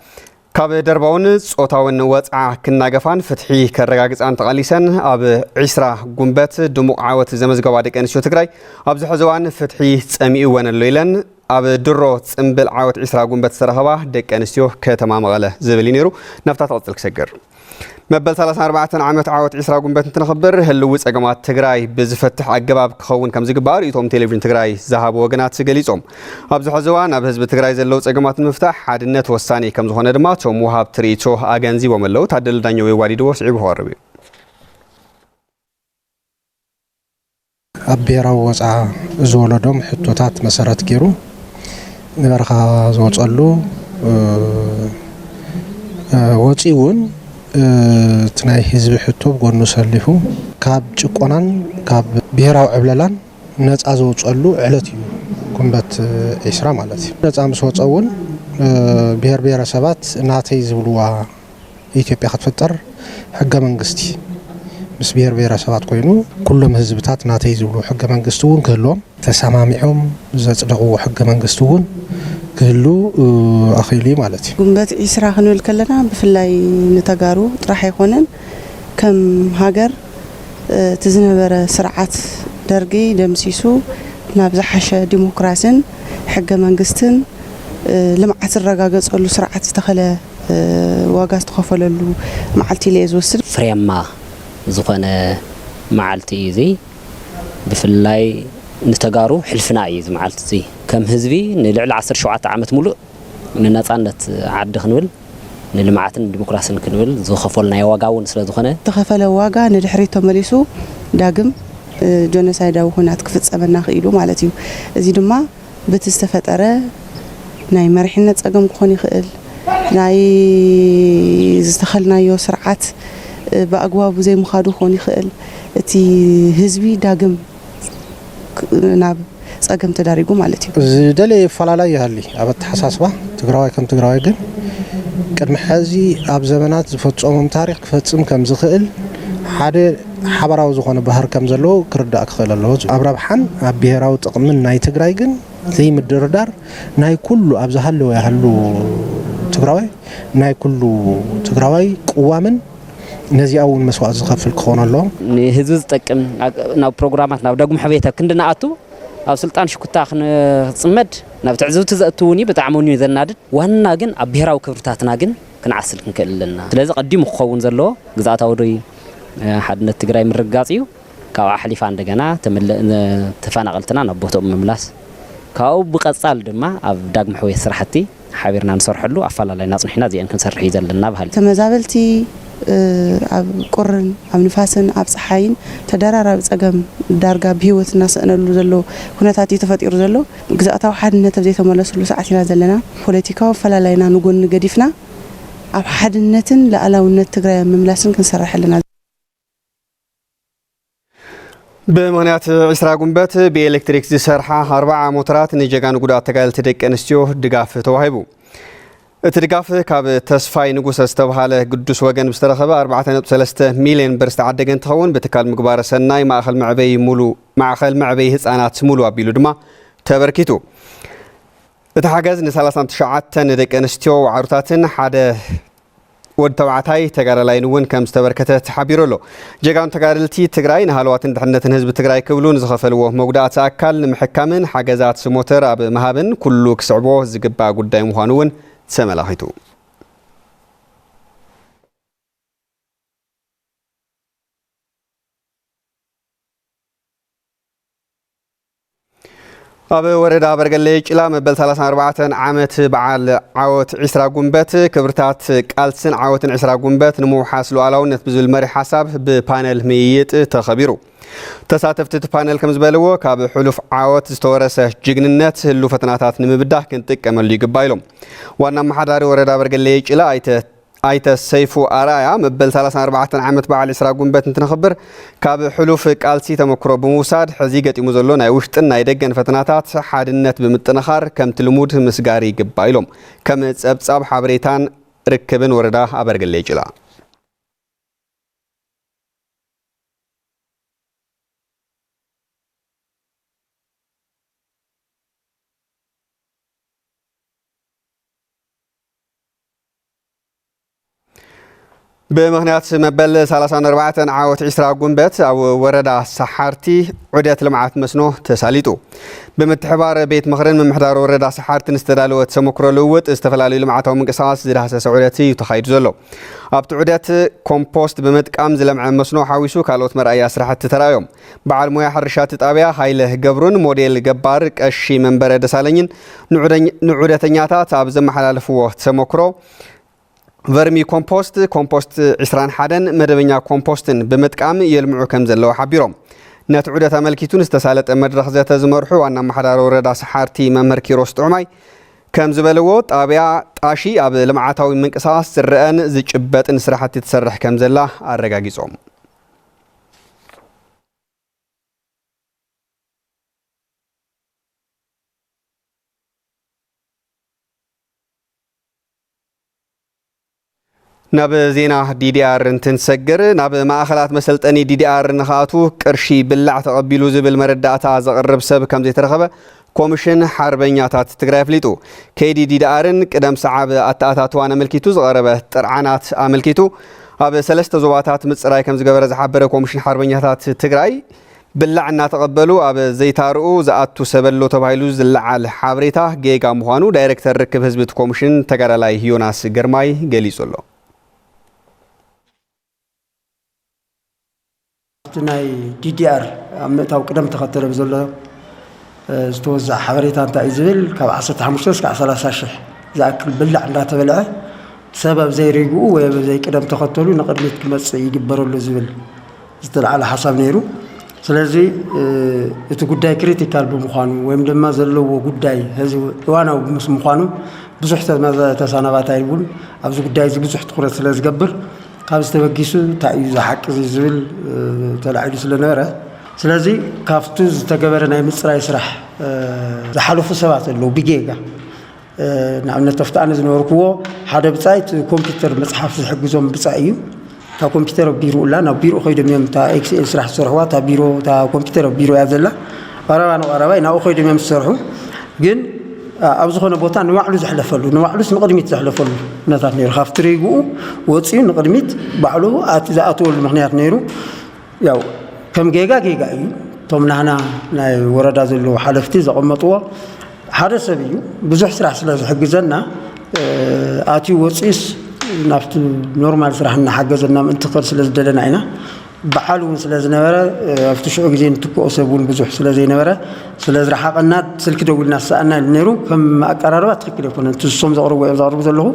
ካብ ደርባውን ጾታውን ወጽዓ ክናገፋን ፍትሒ ከረጋግጻን ተቓሊሰን ኣብ ዒስራ ጉንበት ድሙቕ ዓወት ዘመዝገባ ደቂ ኣንስትዮ ትግራይ ኣብዚ ሕዚ እዋን ፍትሒ ጸሚኡወን ኣሎ ኢለን ኣብ ድሮ ጽምብል ዓወት ዒስራ ጉንበት ዝተረኸባ ደቂ ኣንስትዮ ከተማ መቐለ ዝብል እዩ ነይሩ። ናብታ ትቕጽል ክሰግር። መበል ሰላሳን ኣርባዕተን ዓመት ዓወት ዒስራ ጉንበት እንትነኽብር ህልዊ ጸገማት ትግራይ ብዝፈትሕ ኣገባብ ክኸውን ከም ዝግባእ ርእይቶም ቴሌቪዥን ትግራይ ዝሃቡ ወገናት ገሊጾም። ኣብዚ ሕዚ እዋን ኣብ ህዝቢ ትግራይ ዘለዉ ጸገማት ንምፍታሕ ሓድነት ወሳኒ ከም ዝኾነ ድማ እቶም ወሃብቲ ርእይቶ ኣገንዚቦም ኣለዉ። ታደለ ዳኘው የዋዲድዎ ስዒቡ ክቐርብ እዩ። ኣብ ብሄራዊ ወፅዓ ዝወለዶም ሕቶታት መሰረት ገይሩ ንበረኻ ዝወፀሉ ወፂኡ እውን እቲ ናይ ህዝቢ ሕቶ ብጎኑ ኣሰሊፉ ካብ ጭቆናን ካብ ብሄራዊ ዕብለላን ነፃ ዝወፀሉ ዕለት እዩ ጉንበት ዒስራ ማለት እዩ። ነፃ ምስ ወፀ እውን ብሄር ብሄረሰባት ናተይ ዝብልዋ ኢትዮጵያ ክትፍጠር ሕገ መንግስቲ ምስ ብሄር ብሄረሰባት ኮይኑ ኩሎም ህዝብታት ናተይ ዝብሉ ሕገ መንግስቲ እውን ክህልዎም ተሰማሚዖም ዘፅደቕዎ ሕገ መንግስቲ እውን ክህሉ ኣኽኢሉ እዩ ማለት እዩ። ጉንበት ዒስራ ክንብል ከለና ብፍላይ ንተጋሩ ጥራሕ ኣይኮነን ከም ሃገር እቲ ዝነበረ ስርዓት ደርጊ ደምሲሱ ናብ ዝሓሸ ዲሞክራሲን ሕገ መንግስትን ልምዓት ዝረጋገፀሉ ስርዓት ዝተኸለ ዋጋ ዝተኸፈለሉ መዓልቲ ኢለ'የ ዝወስድ። ፍሬያማ ዝኾነ መዓልቲ እዩ እዚ። ብፍላይ ንተጋሩ ሕልፍና እዩ እዚ መዓልቲ እዚ። ከም ህዝቢ ንልዕሊ ዓሰርተ ሸውዓተ ዓመት ሙሉእ ንነፃነት ዓዲ ክንብል፣ ንልምዓትን ንዲሞክራስን ክንብል ዝኸፈልናዮ ዋጋ እውን ስለዝኾነ። ዝተኸፈለ ዋጋ ንድሕሪት ተመሊሱ ዳግም ጆኖሳይዳዊ ኹናት ክፍፀመና ክኢሉ ማለት እዩ። እዚ ድማ። በቲ ዝተፈጠረ ናይ መሪሕነት ፀገም ክኾን ይኽእል፣ ናይ ዝተኸልናዮ ስርዓት ብኣግባቡ ዘይምኻዱ ክኾን ይኽእል እቲ ህዝቢ ዳግም ናብ ፀገም ተዳሪጉ ማለት እዩ። ዝደለየ ይፈላላይ ይሃሊ ኣብ ኣተሓሳስባ ትግራዋይ ከም ትግራዋይ ግን ቅድሚ ሐዚ ኣብ ዘመናት ዝፈፀሞም ታሪኽ ክፈፅም ከምዝኽእል ሓደ ሓባራዊ ዝኾነ ባህር ከም ዘለዎ ክርዳእ ክኽእል ኣለዎ። ኣብ ረብሓን ኣብ ብሄራዊ ጥቕምን ናይ ትግራይ ግን ዘይምድርዳር ናይ ኩሉ ኣብ ዝሃለወ ይሃሉ ትግራዋይ ናይ ኩሉ ትግራዋይ ቅዋምን ነዚኣ እውን መስዋእቲ ዝኸፍል ክኾን ኣለዎ። ንህዝቢ ዝጠቅም ናብ ፕሮግራማት ናብ ዳግም ሕውየት ኣብ ክንዲ ንኣቱ ኣብ ስልጣን ሽኩታ ክንፅመድ ናብ ትዕዝብቲ ዘእቱ እውን እዩ። ብጣዕሚ እውን እዩ ዘናድድ። ዋና ግን ኣብ ብሄራዊ ክብርታትና ግን ክንዓስል ክንክእል ኣለና። ስለዚ ቀዲሙ ክኸውን ዘለዎ ግዝኣታዊ ዶይ ሓድነት ትግራይ ምርግጋፅ እዩ። ካብኡ ሓሊፋ እንደገና ተፈናቐልትና ናብ ቦትኦም ምምላስ፣ ካብኡ ብቐፃሊ ድማ ኣብ ዳግመ ሕውየት ስራሕቲ ሓቢርና ንሰርሐሉ ኣፈላላይና ኣፅኒሕና እዚኤን ክንሰርሕ እዩ ዘለና በሃልቲ። ተመዛበልቲ ኣብ ቁርን፣ ኣብ ንፋስን ኣብ ፀሓይን ተደራራቢ ፀገም ዳርጋ ብህይወት እናሰእነሉ ዘሎ ኩነታት እዩ ተፈጢሩ ዘሎ። ግዝኣታዊ ሓድነት ኣብ ዘይተመለስሉ ሰዓት ኢና ዘለና። ፖለቲካዊ ኣፈላላይና ንጎኒ ገዲፍና ኣብ ሓድነትን ልኣላውነት ትግራይ ኣብ ምምላስን ክንሰርሕ ኣለና። ብምኽንያት ዕስራ ጉንበት ብኤሌክትሪክ ዝሰርሓ ኣርብዓ ሞተራት ንጀጋኑ ጉዳት ተጋደልቲ ደቂ ኣንስትዮ ድጋፍ ተዋሂቡ። እቲ ድጋፍ ካብ ተስፋይ ንጉሰ ዝተብሃለ ግዱስ ወገን ብዝተረኸበ ኣርባዕተ ነጥቢ ሰለስተ ሚልየን ብር ዝተዓደገ እንትኸውን ብትካል ምግባረ ሰናይ ማእኸል መዕበዪ ሙሉ ማዕኸል መዕበዪ ህፃናት ሙሉ ኣቢሉ ድማ ተበርኪቱ። እቲ ሓገዝ ንሰላሳን ትሽዓተን ደቂ ኣንስትዮ ዋዕሩታትን ሓደ ወድ ተባዕታይ ተጋዳላይን እውን ከም ዝተበርከተ ተሓቢሩ ኣሎ። ጀጋኑ ተጋደልቲ ትግራይ ንሃለዋትን ድሕነትን ህዝቢ ትግራይ ክብሉ ንዝኸፈልዎ መጉዳእቲ ኣካል ንምሕካምን ሓገዛት ሞተር ኣብ ምሃብን ኩሉ ክስዕቦ ዝግባእ ጉዳይ ምዃኑ እውን ተመላኺቱ። ኣብ ወረዳ በርገሌ ጭላ መበል 34 ዓመት በዓል ዓወት ዒስራ ጉንበት ክብርታት ቃልስን ዓወትን ዒስራ ጉንበት ንምውሓስ ሉዓላውነት ብዝብል መሪሕ ሓሳብ ብፓነል ምይይጥ ተኸቢሩ። ተሳተፍቲ እቲ ፓነል ከም ዝበልዎ ካብ ሕሉፍ ዓወት ዝተወረሰ ጅግንነት ህሉ ፈተናታት ንምብዳህ ክንጥቀመሉ ይግባ ኢሎም። ዋና ኣመሓዳሪ ወረዳ በርገሌ ጭላ ኣይተ ኣይተ ሰይፉ ኣርኣያ፣ መበል ሰላሳን ኣርባዕተን ዓመት በዓል ዕስራ ጉንበት እንትነኽብር ካብ ሕሉፍ ቃልሲ ተመክሮ ብምውሳድ ሕዚ ገጢሙ ዘሎ ናይ ውሽጥን ናይ ደገን ፈተናታት ሓድነት ብምጥንኻር ከምቲ ልሙድ ምስጋር ይግባእ ኢሎም ከም ፀብፃብ ሓበሬታን ርክብን ወረዳ ኣበርገሌ ጭላ ብምኽንያት መበል 34 ዓወት ዒስራ ጉንበት ኣብ ወረዳ ሰሓርቲ ዑደት ልምዓት መስኖ ተሳሊጡ ብምትሕባር ቤት ምኽርን ምምሕዳር ወረዳ ሰሓርትን ዝተዳለወ ተሞክሮ ልውውጥ ዝተፈላለዩ ልምዓታዊ ምንቅስቓስ ዝዳህሰሰ ዑደት እዩ ተኻይዱ ዘሎ ኣብቲ ዑደት ኮምፖስት ብምጥቃም ዝለምዐ መስኖ ሓዊሱ ካልኦት መርኣያ ስራሕቲ ተራእዮም በዓል ሞያ ሕርሻ እቲ ጣብያ ሃይለ ገብሩን ሞዴል ገባር ቀሺ መንበረ ደሳለኝን ንዑደተኛታት ኣብ ዘመሓላለፍዎ ተሞክሮ ቨርሚ ኮምፖስት፣ ኮምፖስት ዕስራን ሓደን መደበኛ ኮምፖስትን ብምጥቃም የልምዑ ከምዘለዉ ሓቢሮም። ነቲ ዑደት ኣመልኪቱ ንዝተሳለጠ መድረኽ ዘተ ዝመርሑ ዋና ኣመሓዳሪ ወረዳ ሰሓርቲ መምህር ኪሮስ ጥዑማይ ከምዝበልዎ ጣብያ ጣሺ ኣብ ልምዓታዊ ምንቅስቓስ ዝረኣን ዝጭበጥን ስራሕቲ ትሰርሕ ከምዘላ ኣረጋጊፆም። ናብ ዜና ዲዲኣር እንትንሰግር ናብ ማእኸላት መሰልጠኒ ዲዲኣር ንክኣቱ ቅርሺ ብላዕ ተቐቢሉ ዝብል መረዳእታ ዘቕርብ ሰብ ከም ዘይተረኸበ ኮምሽን ሓርበኛታት ትግራይ ኣፍሊጡ። ከይዲ ዲዲኣርን ቅደም ሰዓብ ኣተኣታትዋን ኣመልኪቱ ዝቐረበ ጥርዓናት ኣመልኪቱ ኣብ ሰለስተ ዞባታት ምፅራይ ከምዝገበረ ዝሓበረ ኮምሽን ሓርበኛታት ትግራይ ብላዕ እናተቐበሉ ኣብ ዘይታርኡ ዝኣቱ ሰብ ኣሎ ተባሂሉ ዝለዓል ሓበሬታ ጌጋ ምዃኑ ዳይሬክተር ርክብ ህዝቢ እቲ ኮምሽን ተጋዳላይ ዮናስ ግርማይ ገሊፁ ኣሎ። ኣብቲ ናይ DDR ኣብ ምእታው ቅደም ተኸተሎ ብዘሎ ዝተወዘዐ ሓበሬታ እንታይ እዩ ዝብል ካብ ዓሰርተ ሓሙሽተ እስካዕ ሰላሳ ሽሕ ዝኣክል ብላዕ እንዳተበልዐ ሰብ ኣብ ዘይሪግኡ ወይ ኣብ ዘይቅደም ተኸተሉ ንቕድሚት ክመፅእ ይግበረሉ ዝብል ዝተልዓለ ሓሳብ ነይሩ። ስለዚ እቲ ጉዳይ ክሪቲካል ብምዃኑ ወይም ድማ ዘለዎ ጉዳይ ሕዚ እዋናዊ ምስ ምዃኑ ብዙሕ ተሰናባታይ እውን ኣብዚ ጉዳይ እዚ ብዙሕ ትኩረት ስለ ዝገብር ካብዚ ተበጊሱ እንታይ እዩ ዝሓቂ እዚ ዝብል ተላዒሉ ስለነበረ ስለዚ ካብቲ ዝተገበረ ናይ ምፅራይ ስራሕ ዝሓለፉ ሰባት ኣለዉ ብጌጋ ንኣብነት ኣብቲ ኣነ ዝነበርክዎ ሓደ ብጻይ እቲ ኮምፒውተር መጽሓፍ ዝሕግዞም ብጻይ እዩ እታ ኮምፒውተር ኣብ ቢሮ እላ ናብ ቢሮ ከይዶም እዮም እታ ኤክስኤል ስራሕ ዝሰርሕዋ እታ ቢሮ እታ ኮምፒውተር ኣብ ቢሮ እያ ዘላ ቀረባ ንቐረባይ ናብኡ ከይዶም እዮም ዝሰርሑ ግን ኣብ ዝኾነ ቦታ ንባዕሉ ዘሕለፈሉ ንባዕሉስ ንቕድሚት ዘሕለፈሉ ኩነታት ነይሩ ካብቲ ሪግኡ ወፂኡ ንቕድሚት ባዕሉ ዝኣተወሉ ምክንያት ነይሩ ያው ከም ጌጋ ጌጋ እዩ እቶም ናህና ናይ ወረዳ ዘለዉ ሓለፍቲ ዘቐመጥዎ ሓደ ሰብ እዩ ብዙሕ ስራሕ ስለ ዝሕግዘና ኣትዩ ወፂኡስ ናብቲ ኖርማል ስራሕ እናሓገዘና ምእንቲ ክኸድ ስለ ዝደለና ኢና በዓል እውን ስለ ዝነበረ ኣብቲ ሽዑ ግዜ ንትክኦ ሰብ እውን ብዙሕ ስለ ዘይነበረ ስለ ዝረሓቐና ስልኪ ደዊልና ዝሰኣና ነይሩ ከም ኣቀራርባ ትክክል ኣይኮነን ትዝሶም ዘቕርቡ እዮም ዘቕርቡ ዘለኹ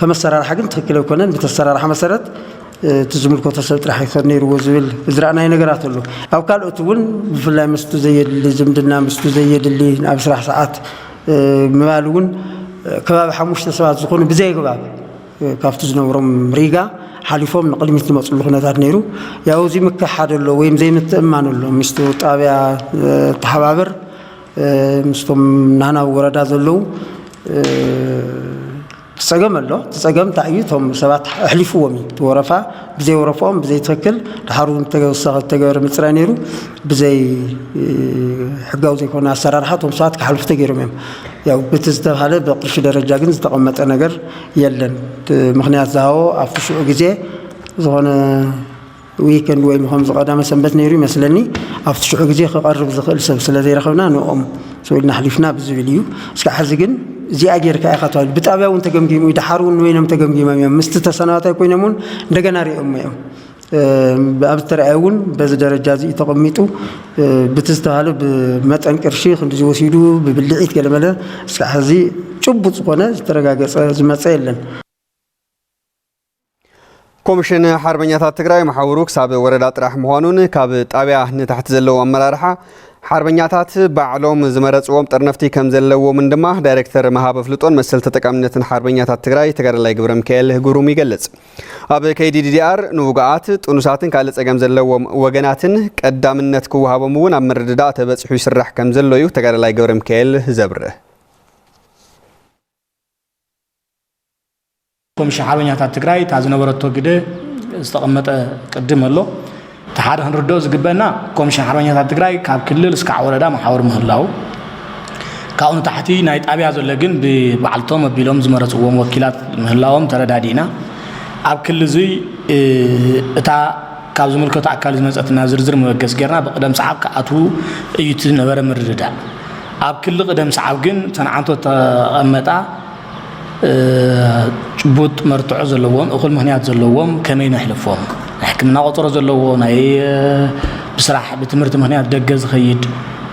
ከም ኣሰራርሓ ግን ትክክል ኣይኮነን ብተሰራርሓ መሰረት እቲ ዝምልከቶ ሰብ ጥራሕ ይኸድ ነይርዎ ዝብል ዝረኣናይ ነገራት ኣሎ። ኣብ ካልኦት እውን ብፍላይ ምስቱ ዘየድሊ ዝምድና ምስቱ ዘየድሊ ናብ ስራሕ ሰዓት ምባል እውን ከባቢ ሓሙሽተ ሰባት ዝኾኑ ብዘየግባብ ካብቲ ዝነብሮም ሪጋ ሓሊፎም ንቕድሚት ዝመፅሉ ኩነታት ነይሩ። ያው እዚ ምክሕሓድ ኣሎ ወይም ዘይምትእምማን ኣሎ ምስቱ ጣብያ ተሓባበር ምስቶም ናህና ወረዳ ዘለዉ ጸገም ኣሎ እቲ ጸገም እንታይ እዩ እቶም ሰባት ኣሕሊፍዎም እዩ እቲ ወረፋ ብዘይ ወረፍኦም ብዘይ ትክክል ድሓር እውን ተወሳኺ ዝተገበረ ምፅራይ ነይሩ ብዘይ ሕጋዊ ዘይኮነ ኣሰራርሓ እቶም ሰባት ክሓልፉ ተገይሮም እዮም ያው እቲ ዝተባሃለ ብቅርሺ ደረጃ ግን ዝተቐመጠ ነገር የለን ምክንያት ዝሃቦ ኣብቲ ሽዑ ግዜ ዝኾነ ዊከንድ ወይ ንኸምዚ ቀዳመ ሰንበት ነይሩ ይመስለኒ ኣብቲ ሽዑ ግዜ ክቐርብ ዝኽእል ሰብ ስለ ዘይረኸብና ንኦም ስውኢልና ኣሕሊፍና ብዝብል እዩ እስካዕ ሕዚ ግን እዚኣ ጌርካ ኢኻ ተባሂሉ ብጣብያ እውን ተገምጊሙ እዩ ድሓር እውን ንበይኖም ተገምጊሞም እዮም ምስቲ ተሰናባታይ ኮይኖም እውን እንደገና ሪኦሞ እዮም ኣብ ዝተረኣየ እውን በዚ ደረጃ እዚ ተቐሚጡ ብቲ ዝተባሃለ ብመጠን ቅርሺ ክንዲ ዝወሲዱ ብብልዒት ገለመለ እስካዕ ሕዚ ጭቡጥ ዝኾነ ዝተረጋገፀ ዝመፀ የለን ኮሚሽን ሓርበኛታት ትግራይ መሓውሩ ክሳብ ወረዳ ጥራሕ ምዃኑን ካብ ጣብያ ንታሕቲ ዘለዉ ኣመራርሓ ሓርበኛታት ባዕሎም ዝመረፅዎም ጠርነፍቲ ከም ዘለዎምን ድማ ዳይሬክተር መሃብ ኣፍልጦን መሰል ተጠቃምነትን ሓርበኛታት ትግራይ ተጋዳላይ ግብረ ሚካኤል ግሩም ይገልፅ። ኣብ ከይዲ ዲዲኣር ንውጉኣት ጥኑሳትን ካልእ ፀገም ዘለዎም ወገናትን ቀዳምነት ክወሃቦም እውን ኣብ ምርድዳእ ተበፂሑ ይስራሕ ከም ዘሎ እዩ ተጋዳላይ ገብረ ሚካኤል ዘብርህ። እቶም ሽሓበኛታት ትግራይ እታ ዝነበረቶ ግደ ዝተቐመጠ ቅድም ኣሎ እቲ ሓደ ክንርድኦ ዝግበእና ኮሚሽን ሓርበኛታት ትግራይ ካብ ክልል እስካዕ ወረዳ መሓውር ምህላው ካብኡ ንታሕቲ ናይ ጣብያ ዘሎ ግን ብበዓልቶም ኣቢሎም ዝመረፅዎም ወኪላት ምህላዎም ተረዳዲእና ኣብ ክሊ እዙይ እታ ካብ ዝምልከቱ ኣካል ዝመፀትና ዝርዝር መበገስ ጌርና ብቅደም ሰዓብ ክኣትዉ እዩ እቲ ነበረ ምርድዳእ ኣብ ክሊ ቅደም ሰዓብ ግን ተንዓንቶ ተቐመጣ ጭቡጥ መርትዖ ዘለዎም እኹል ምኽንያት ዘለዎም ከመይ ነሕልፎም? ናይ ሕክምና ቆፀሮ ዘለዎ፣ ናይ ብስራሕ ብትምህርቲ ምኽንያት ደገ ዝኸይድ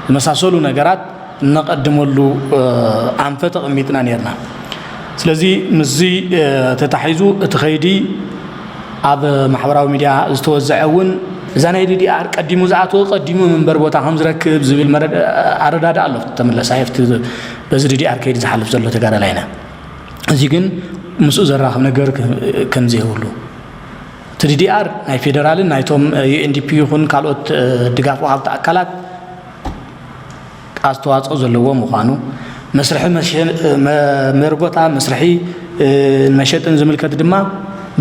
ዝመሳሰሉ ነገራት እነቐድመሉ ኣንፈት ኣቐሚጥና ነይርና። ስለዚ ምስዚ ተታሒዙ እቲ ከይዲ ኣብ ማሕበራዊ ሚዲያ ዝተወዘዐ እውን፣ እዛ ናይ ዲዲኣር ቀዲሙ ዝኣተወ ቀዲሙ መንበሪ ቦታ ከምዝረክብ ዝብል ኣረዳድኣ ኣሎ፣ ተመለስ ኣብቲ በዚ ዲዲኣር ከይዲ ዝሓልፍ ዘሎ ተጋዳላይ ኢና እዚ ግን ምስኡ ዘራኽብ ነገር ከምዘይብሉ እቲ ዲዲኣር ናይ ፌዴራልን ናይቶም ዩኤንዲፒ ይኹን ካልኦት ድጋፍ ወሃብቲ ኣካላት ኣስተዋፅኦ ዘለዎ ምዃኑ መስርሒ መርጎታ መስርሒ መሸጥን ዝምልከት ድማ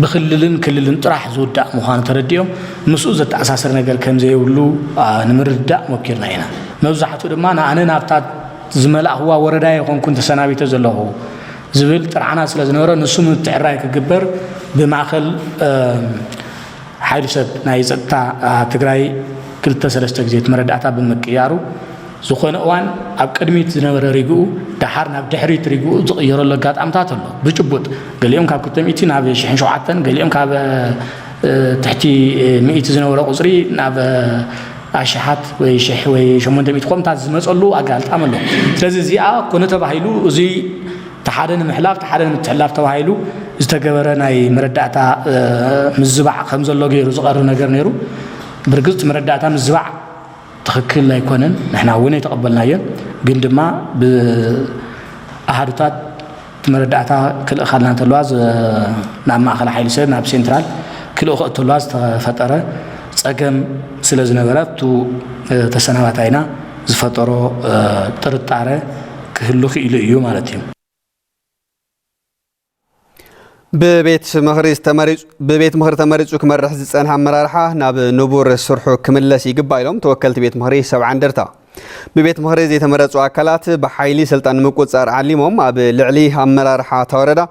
ብክልልን ክልልን ጥራሕ ዝውዳእ ምዃኑ ተረዲኦም ምስኡ ዘተኣሳሰር ነገር ከምዘይብሉ ንምርዳእ ሞኪርና ኢና መብዛሕትኡ ድማ ንኣነ ናብታ ዝመላእኹዋ ወረዳ ኣይኾንኩን ተሰናቢተ ዘለኹ ዝብል ጥርዓናት ስለ ዝነበረ ንሱ ምትዕራይ ክግበር ብማእኸል ሓይሊ ሰብ ናይ ፀጥታ ትግራይ ክልተ ሰለስተ ግዜ እቲ መረዳእታ ብምቅያሩ ዝኾነ እዋን ኣብ ቅድሚት ዝነበረ ሪግኡ ደሓር ናብ ድሕሪት ሪግኡ ዝቕየረሉ ኣጋጣምታት ኣሎ ብጭቡጥ ገሊኦም ካብ ክልተ ሚእቲ ናብ ሽሕን ሸውዓተን ገሊኦም ካብ ትሕቲ ሚእቲ ዝነበረ ቁፅሪ ናብ ኣሽሓት ወይ ሽሕ ወይ ሸሞንተ ሚእቲ ኮምታት ዝመፀሉ ኣጋልጣሚ ኣሎ። ስለዚ እዚኣ ኮነ ተባሂሉ እዚ ተሓደ ንምሕላፍ ተሓደ ንምትሕላፍ ተባሂሉ ዝተገበረ ናይ መረዳእታ ምዝባዕ ከምዘሎ ገይሩ ዝቐርብ ነገር ነይሩ። ብርግፅ እቲ መረዳእታ ምዝባዕ ትኽክል ኣይኮነን፣ ንሕና እውን ኣይተቐበልናዮን። ግን ድማ ብኣሃዱታት እቲ መረዳእታ ክልእኻልና እንተለዋ ናብ ማእኸል ሓይሊ ሰብ ናብ ሴንትራል ክልእኾ እተለዋ ዝተፈጠረ ፀገም ስለ ዝነበረ ኣብቱ ተሰናባታይና ዝፈጠሮ ጥርጣረ ክህሉ ክኢሉ እዩ ማለት እዩ። ብቤት ምኽሪ ተመሪፁ ክመርሕ ዝፀንሐ ኣመራርሓ ናብ ንቡር ስርሑ ክምለስ ይግባእ ኢሎም ተወከልቲ ቤት ምኽሪ ሰብዓ እንደርታ። ብቤት ምኽሪ ዘይተመረፁ ኣካላት ብሓይሊ ስልጣን ንምቁፅፃር ዓሊሞም ኣብ ልዕሊ ኣመራርሓ እታ ወረዳ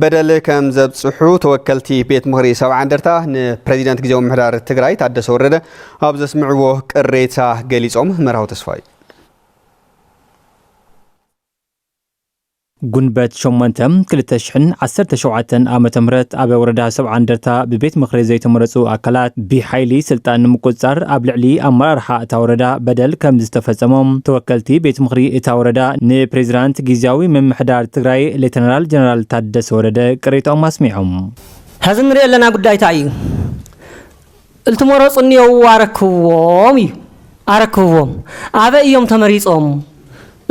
በደል ከም ዘብፅሑ ተወከልቲ ቤት ምኽሪ ሰብዓ እንደርታ ንፕሬዚደንት ግዜያዊ ምሕዳር ትግራይ ታደሰ ወረደ ኣብ ዘስምዕዎ ቅሬታ ገሊፆም። መርሃዊ ተስፋይ ጉንበት ሸሞንተ ክልተ ሽሕን ዓሰርተ ሸውዓተን ዓመተ ምህረት ኣብ ወረዳ ሰብዓ እንደርታ ብቤት ምኽሪ ዘይተመረፁ ኣካላት ብሓይሊ ስልጣን ንምቁፅፃር ኣብ ልዕሊ ኣመራርሓ እታ ወረዳ በደል ከምዝተፈፀሞም ተወከልቲ ቤት ምኽሪ እታ ወረዳ ንፕሬዚዳንት ጊዚያዊ ምምሕዳር ትግራይ ሌተናራል ጀነራል ታደሰ ወረደ ቅሬታኦም ኣስሚዖም። ሐዚ እንሪኦ ዘለና ጉዳይ ታይ እዩ? እልትመረጹ እኒኦዉ ኣረክብዎም እዩ ኣረክብዎም ኣበይ እዮም ተመሪጾም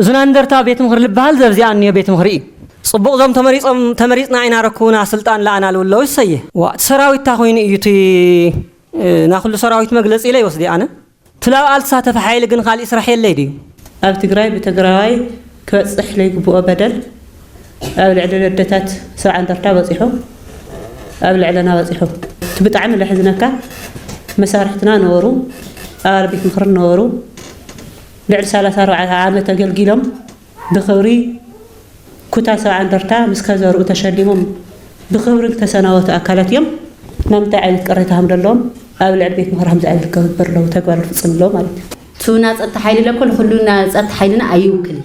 እዙና እንደርታ ቤት ምኽሪ ልበሃል ዘብዚኣ እኒኦ ቤት ምኽሪ እዩ ጽቡቅ እዞም ተመሪጾም ተመሪጽና ኢና ኣረክቡና ስልጣን ለኣና ልብለዉ እሰየ። ዋእ እቲ ሰራዊት ታይ ኮይኑ እዩ እቲ ናኩሉ ሰራዊት መግለፂ ኢለ ይወስዲ ኣነ። ትላብ ኣልትሳተፈ ሓይሊ ግን ኻሊእ ስራሕ የለይ ድዩ? ኣብ ትግራይ ብትግራዋይ ክበፅሕ ለይግብኦ በደል ኣብ ልዕሊ ለደታት ሰብዓ እንደርታ በፂሑ ኣብ ልዕለና በፂሑ እቲ ብጣዕሚ ለሕዝነካ መሳርሕትና ነበሩ ኣባል ቤት ምኽሪ ነበሩ ልዕሊ ሰላሳ ኣርባዕተ ዓመት ኣገልጊሎም ብኽብሪ ኩታ ሰብዓ እንደርታ ምስ ከዘርኡ ተሸሊሞም ብኽብሪ ዝተሰናበቱ ኣካላት እዮም። ናብ ምንታይ ዓይነት ቅሬታ ከም ዘለዎም ኣብ ልዕሊ ቤት ምኽሪ ከምዚ ዓይነት ክገብር ኣለዎ ተግባር ክፍፅም ኣለዎ ማለት እዩ። ትውና ፀጥታ ሓይሊ ለኮል ኹሉና ፀጥታ ሓይልና ኣይውክልን።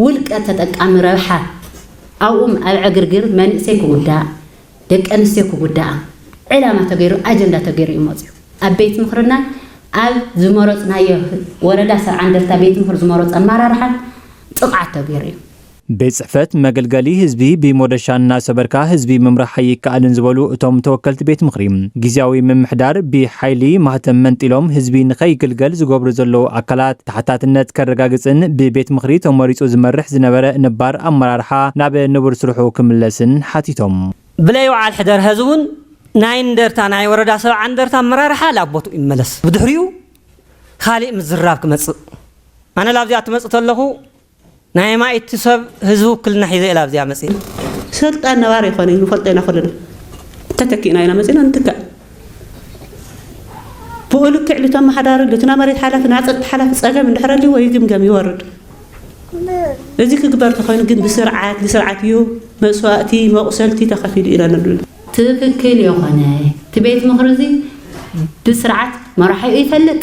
ውልቀ ተጠቃሚ ረብሓ ኣብኡም ኣብ ዕግርግር መንእሰይ ክጉዳእ፣ ደቂ ኣንስትዮ ክጉዳኣ ዕላማ ተገይሩ ኣጀንዳ ተገይሩ እዩ መፂኡ። ኣብ ቤት ምኽርናን ኣብ ዝመረፅናዮ ወረዳ ሰብዓ እንደርታ ቤት ምኽር ዝመረፁ ኣመራርሓን ጥቕዓት ተገይሩ እዩ። ቤት ፅሕፈት መገልገሊ ህዝቢ ብሞደሻ እናሰበርካ ህዝቢ ምምራሕ ኣይከኣልን ዝበሉ እቶም ተወከልቲ ቤት ምኽሪ፣ ጊዚያዊ ምምሕዳር ብሓይሊ ማህተም መንጢሎም ህዝቢ ንከይግልገል ዝገብሩ ዘለዉ ኣካላት፣ ተሓታትነት ከረጋግፅን ብቤት ምኽሪ ተመሪፁ ዝመርሕ ዝነበረ ነባር ኣመራርሓ ናብ ንቡር ስርሑ ክምለስን ሓቲቶም። ብለይ ወዓል ሕደር ሀዚ እውን ናይ እንደርታ ናይ ወረዳ ሰብዓ እንደርታ ኣመራርሓ ላብ ቦትኡ ይመለስ ብድሕሪኡ ካሊእ ምዝርራብ ክመፅእ ኣነ ላብዚኣ ትመፅእ ተለኹ ናይ ኣማኢቲ ሰብ ህዝቢ ውክልና ሒዘ እየ ላብዚኣ መፂእ። ስልጣን ነባሪ ኣይኮነይ ንፈልጦ ኢና ኩልና ተተኪእና ኢና መፂና ንትካእ ብኡ ልክዕ ልቶም መሓዳሪ ልትና መሬት ሓላፊ ና ፀጥታ ሓላፊ ፀገም እንድሕር ኣልዎ ይግምገም ይወርድ እዚ ክግበር ተኮይኑ ግን ብስርዓት ንስርዓት እዩ መስዋእቲ መቁሰልቲ ተኸፊሉ ኢና ንብሉ ትክክል የኾነ እቲ ቤት ምኽሪ እዚ ብስርዓት መራሒኡ ይፈልጥ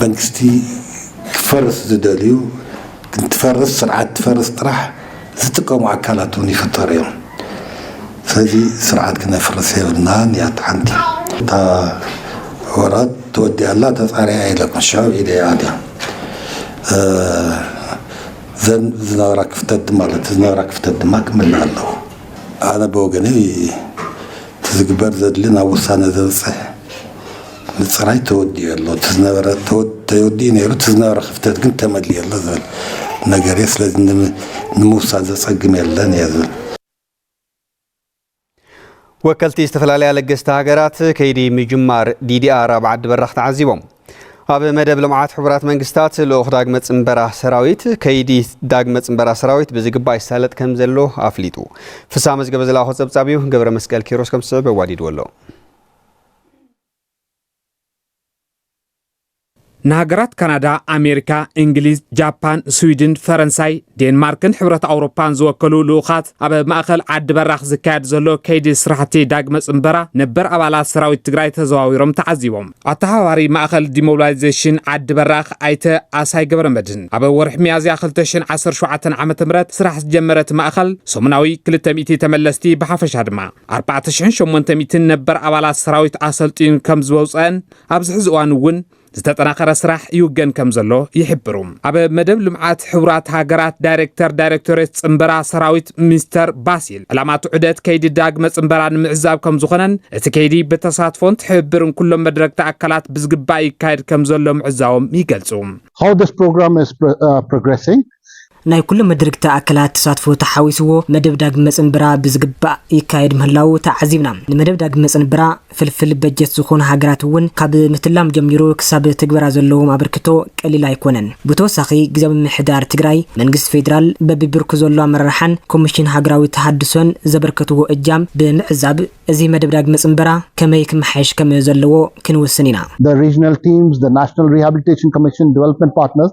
መንግስቲ ክፈርስ ዝደልዩ እንትፈርስ ስርዓት ትፈርስ ጥራሕ ዝጥቀሙ ኣካላት እውን ይፍጠሩ እዮም ስለዚ ስርዓት ክነፍርስ የብልናን እያ እታ ሓንቲ እታ ወራት ተወዲኣ ኣላ ተፃሪያ እየ ኢለኩም ሽዑ ኢለ እያ ኣልያ ዘን ዝነበራ ክፍተት ድማ ኣለቲ ዝነበራ ክፍተት ድማ ክምልእ ኣለዎ ኣነ ብወገነይ እቲ ዝግበር ዘድሊ ናብ ውሳነ ዘብፅሕ ምፅራይ ተወዲኡ ኣሎ እቲ ዝነበረ ተወዲኡ ነይሩ እቲ ዝነበረ ክፍተት ግን ተመሊኡ ኣሎ ዝብል ነገር እየ ስለዚ ንምውሳድ ዘፀግም የለን እየ ዝብል ወከልቲ ዝተፈላለያ ለገስቲ ሃገራት ከይዲ ምጅማር ዲዲኣር ኣብ ዓዲ በራኽ ተዓዚቦም ኣብ መደብ ልምዓት ሕቡራት መንግስታት ልኡኽ ዳግመ ፅንበራ ሰራዊት ከይዲ ዳግመ ፅንበራ ሰራዊት ብዝግባእ ይሳለጥ ከም ዘሎ ኣፍሊጡ ፍሳ መዝገበ ዝለኣኾ ፀብፃብ እዩ ገብረ መስቀል ኪሮስ ከም ዝስዕብ ኣዋዲድዎ ኣሎ ንሃገራት ካናዳ፣ ኣሜሪካ፣ እንግሊዝ፣ ጃፓን፣ ስዊድን፣ ፈረንሳይ፣ ዴንማርክን ሕብረት ኣውሮፓን ዝወከሉ ልኡኻት ኣብ ማእኸል ዓዲ በራኽ ዝካየድ ዘሎ ከይዲ ስራሕቲ ዳግመ ፅንበራ ነበር ኣባላት ሰራዊት ትግራይ ተዘዋዊሮም ተዓዚቦም። ኣተሓባባሪ ማእኸል ዲሞቢላይዜሽን ዓዲ በራኽ ኣይተ ኣሳይ ገብረ መድህን ኣብ ወርሒ ሚያዝያ 2017 ዓ ም ስራሕ ዝጀመረት ማእኸል ሰሙናዊ 200 ተመለስቲ ብሓፈሻ ድማ 4,800 ነበር ኣባላት ሰራዊት ኣሰልጢኑ ከም ዝወውፀን ኣብዚ ሕዚ እዋን እውን ዝተጠናኸረ ስራሕ ይውገን ከም ዘሎ ይሕብሩ ኣብ መደብ ልምዓት ሕቡራት ሃገራት ዳይሬክተር ዳይሬክቶሬት ፅምበራ ሰራዊት ሚስተር ባሲል ዕላማት ዑደት ከይዲ ዳግመ ፅምበራ ንምዕዛብ ከም ዝኾነን እቲ ከይዲ ብተሳትፎን ትሕብብርን ኩሎም መድረግቲ ኣካላት ብዝግባእ ይካየድ ከም ዘሎ ምዕዛዎም ይገልፁ How this program is uh, progressing ናይ ኩሎም መድርግቲ ኣካላት ተሳትፎ ተሓዊስዎ መደብ ዳግም መፅንብራ ብዝግባእ ይካየድ ምህላዉ ተዓዚብና። ንመደብ ዳግም መፅንብራ ፍልፍል በጀት ዝኾኑ ሃገራት እውን ካብ ምትላም ጀሚሩ ክሳብ ትግበራ ዘለዎም ኣበርክቶ ቀሊል ኣይኮነን። ብተወሳኺ ግዝያዊ ምምሕዳር ትግራይ፣ መንግስቲ ፌዴራል፣ በቢ ብርኩ ዘሎ ኣመራርሓን ኮሚሽን ሃገራዊ ተሃድሶን ዘበርከትዎ እጃም ብምዕዛብ እዚ መደብ ዳግም መፅንበራ ከመይ ክመሓየሽ ከም ዘለዎ ክንውስን ኢና። The Regional Teams፣ The National Rehabilitation Commission፣ Development Partners፣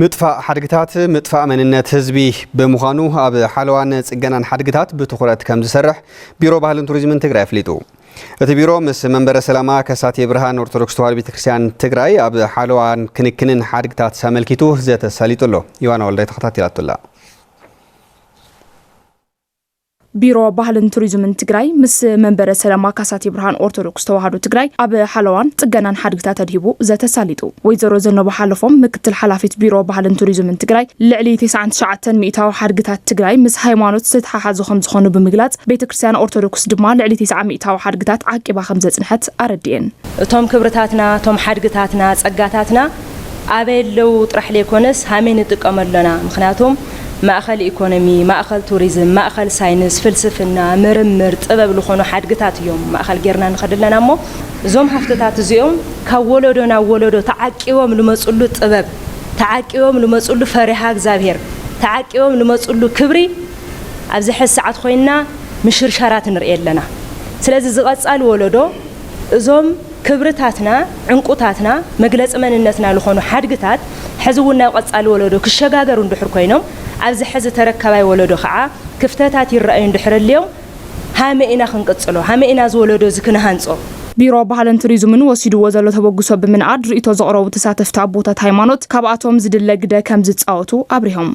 ምጥፋእ ሓድግታት ምጥፋእ መንነት ህዝቢ ብምዃኑ ኣብ ሓለዋን ፅገናን ሓድግታት ብትኹረት ከምዝሰርሕ ቢሮ ባህልን ቱሪዝምን ትግራይ ኣፍሊጡ። እቲ ቢሮ ምስ መንበረ ሰላማ ከሳቴ ብርሃን ኦርቶዶክስ ተዋህዶ ቤተክርስትያን ትግራይ ኣብ ሓለዋን ክንክንን ሓድግታት ኣመልኪቱ ዘተ ኣሳሊጡ ኣሎ። ዮሃና ወልዳይ ተኸታቲላቶ ኣላ። ቢሮ ባህልን ቱሪዝምን ትግራይ ምስ መንበረ ሰላማ ካሳቴ ብርሃን ኦርቶዶክስ ተዋህዶ ትግራይ ኣብ ሓለዋን ፅገናን ሓድግታት ተድሂቡ ዘተ ኣሳሊጡ። ወይዘሮ ዘነበ ሓለፎም ምክትል ሓላፊት ቢሮ ባህልን ቱሪዝምን ትግራይ ልዕሊ ተስዓን ትሽዓተን ሚኢታዊ ሓድግታት ትግራይ ምስ ሃይማኖት ዝተተሓሓዙ ከምዝኾኑ ብምግላፅ ቤተ ክርስቲያን ኦርቶዶክስ ድማ ልዕሊ ተስዓ ሚኢታዊ ሓድግታት ዓቂባ ከምዘፅንሐት ኣረዲኤን። እቶም ክብርታትና፣ እቶም ሓድግታትና፣ ፀጋታትና፣ ኣበይ ኣለዉ ጥራሕ ለይኮነስ ሃመይ ንጥቀም ኣሎና ምክንያቱም ማእኸል ኢኮኖሚ ማእኸል ቱሪዝም ማእኸል ሳይንስ ፍልስፍና ምርምር ጥበብ ልኾኑ ሓድግታት እዮም ማእኸል ገይርና ንኸድ ኣለና እሞ እዞም ሃፍትታት እዚኦም ካብ ወለዶ ናብ ወለዶ ተዓቂቦም ልመፅሉ ጥበብ ተዓቂቦም ልመፅሉ ፈሪሃ እግዚኣብሔር ተዓቂቦም ልመፅሉ ክብሪ ኣብዚ ሐዚ ሰዓት ኾይንና ምሽርሻራት ንርእይ ኣለና ስለዚ ዝቐፃሊ ወለዶ እዞም ክብርታትና፣ ዕንቁታትና፣ መግለፂ መንነትና ልኾኑ ሓድግታት ሕዚ እውን ናብ ቐፃሊ ወለዶ ክሸጋገሩ እንድሕር ኮይኖም ኣብዚ ሕዚ ተረካባይ ወለዶ ከዓ ክፍተታት ይረኣዩ እንድሕር ኣልዮም ሃመይ ኢና ክንቅፅሎ? ሃመይ ኢና እዚ ወለዶ እዚ ክንሃንፆ? ቢሮ ባህልን ቱሪዝምን ወሲድዎ ዘሎ ተበግሶ ብምንኣድ ሪኢቶ ዘቕረቡ ተሳተፍቲ ኣቦታት ሃይማኖት ካብኣቶም ዝድለ ግደ ከምዝፃወቱ ኣብሪሆም።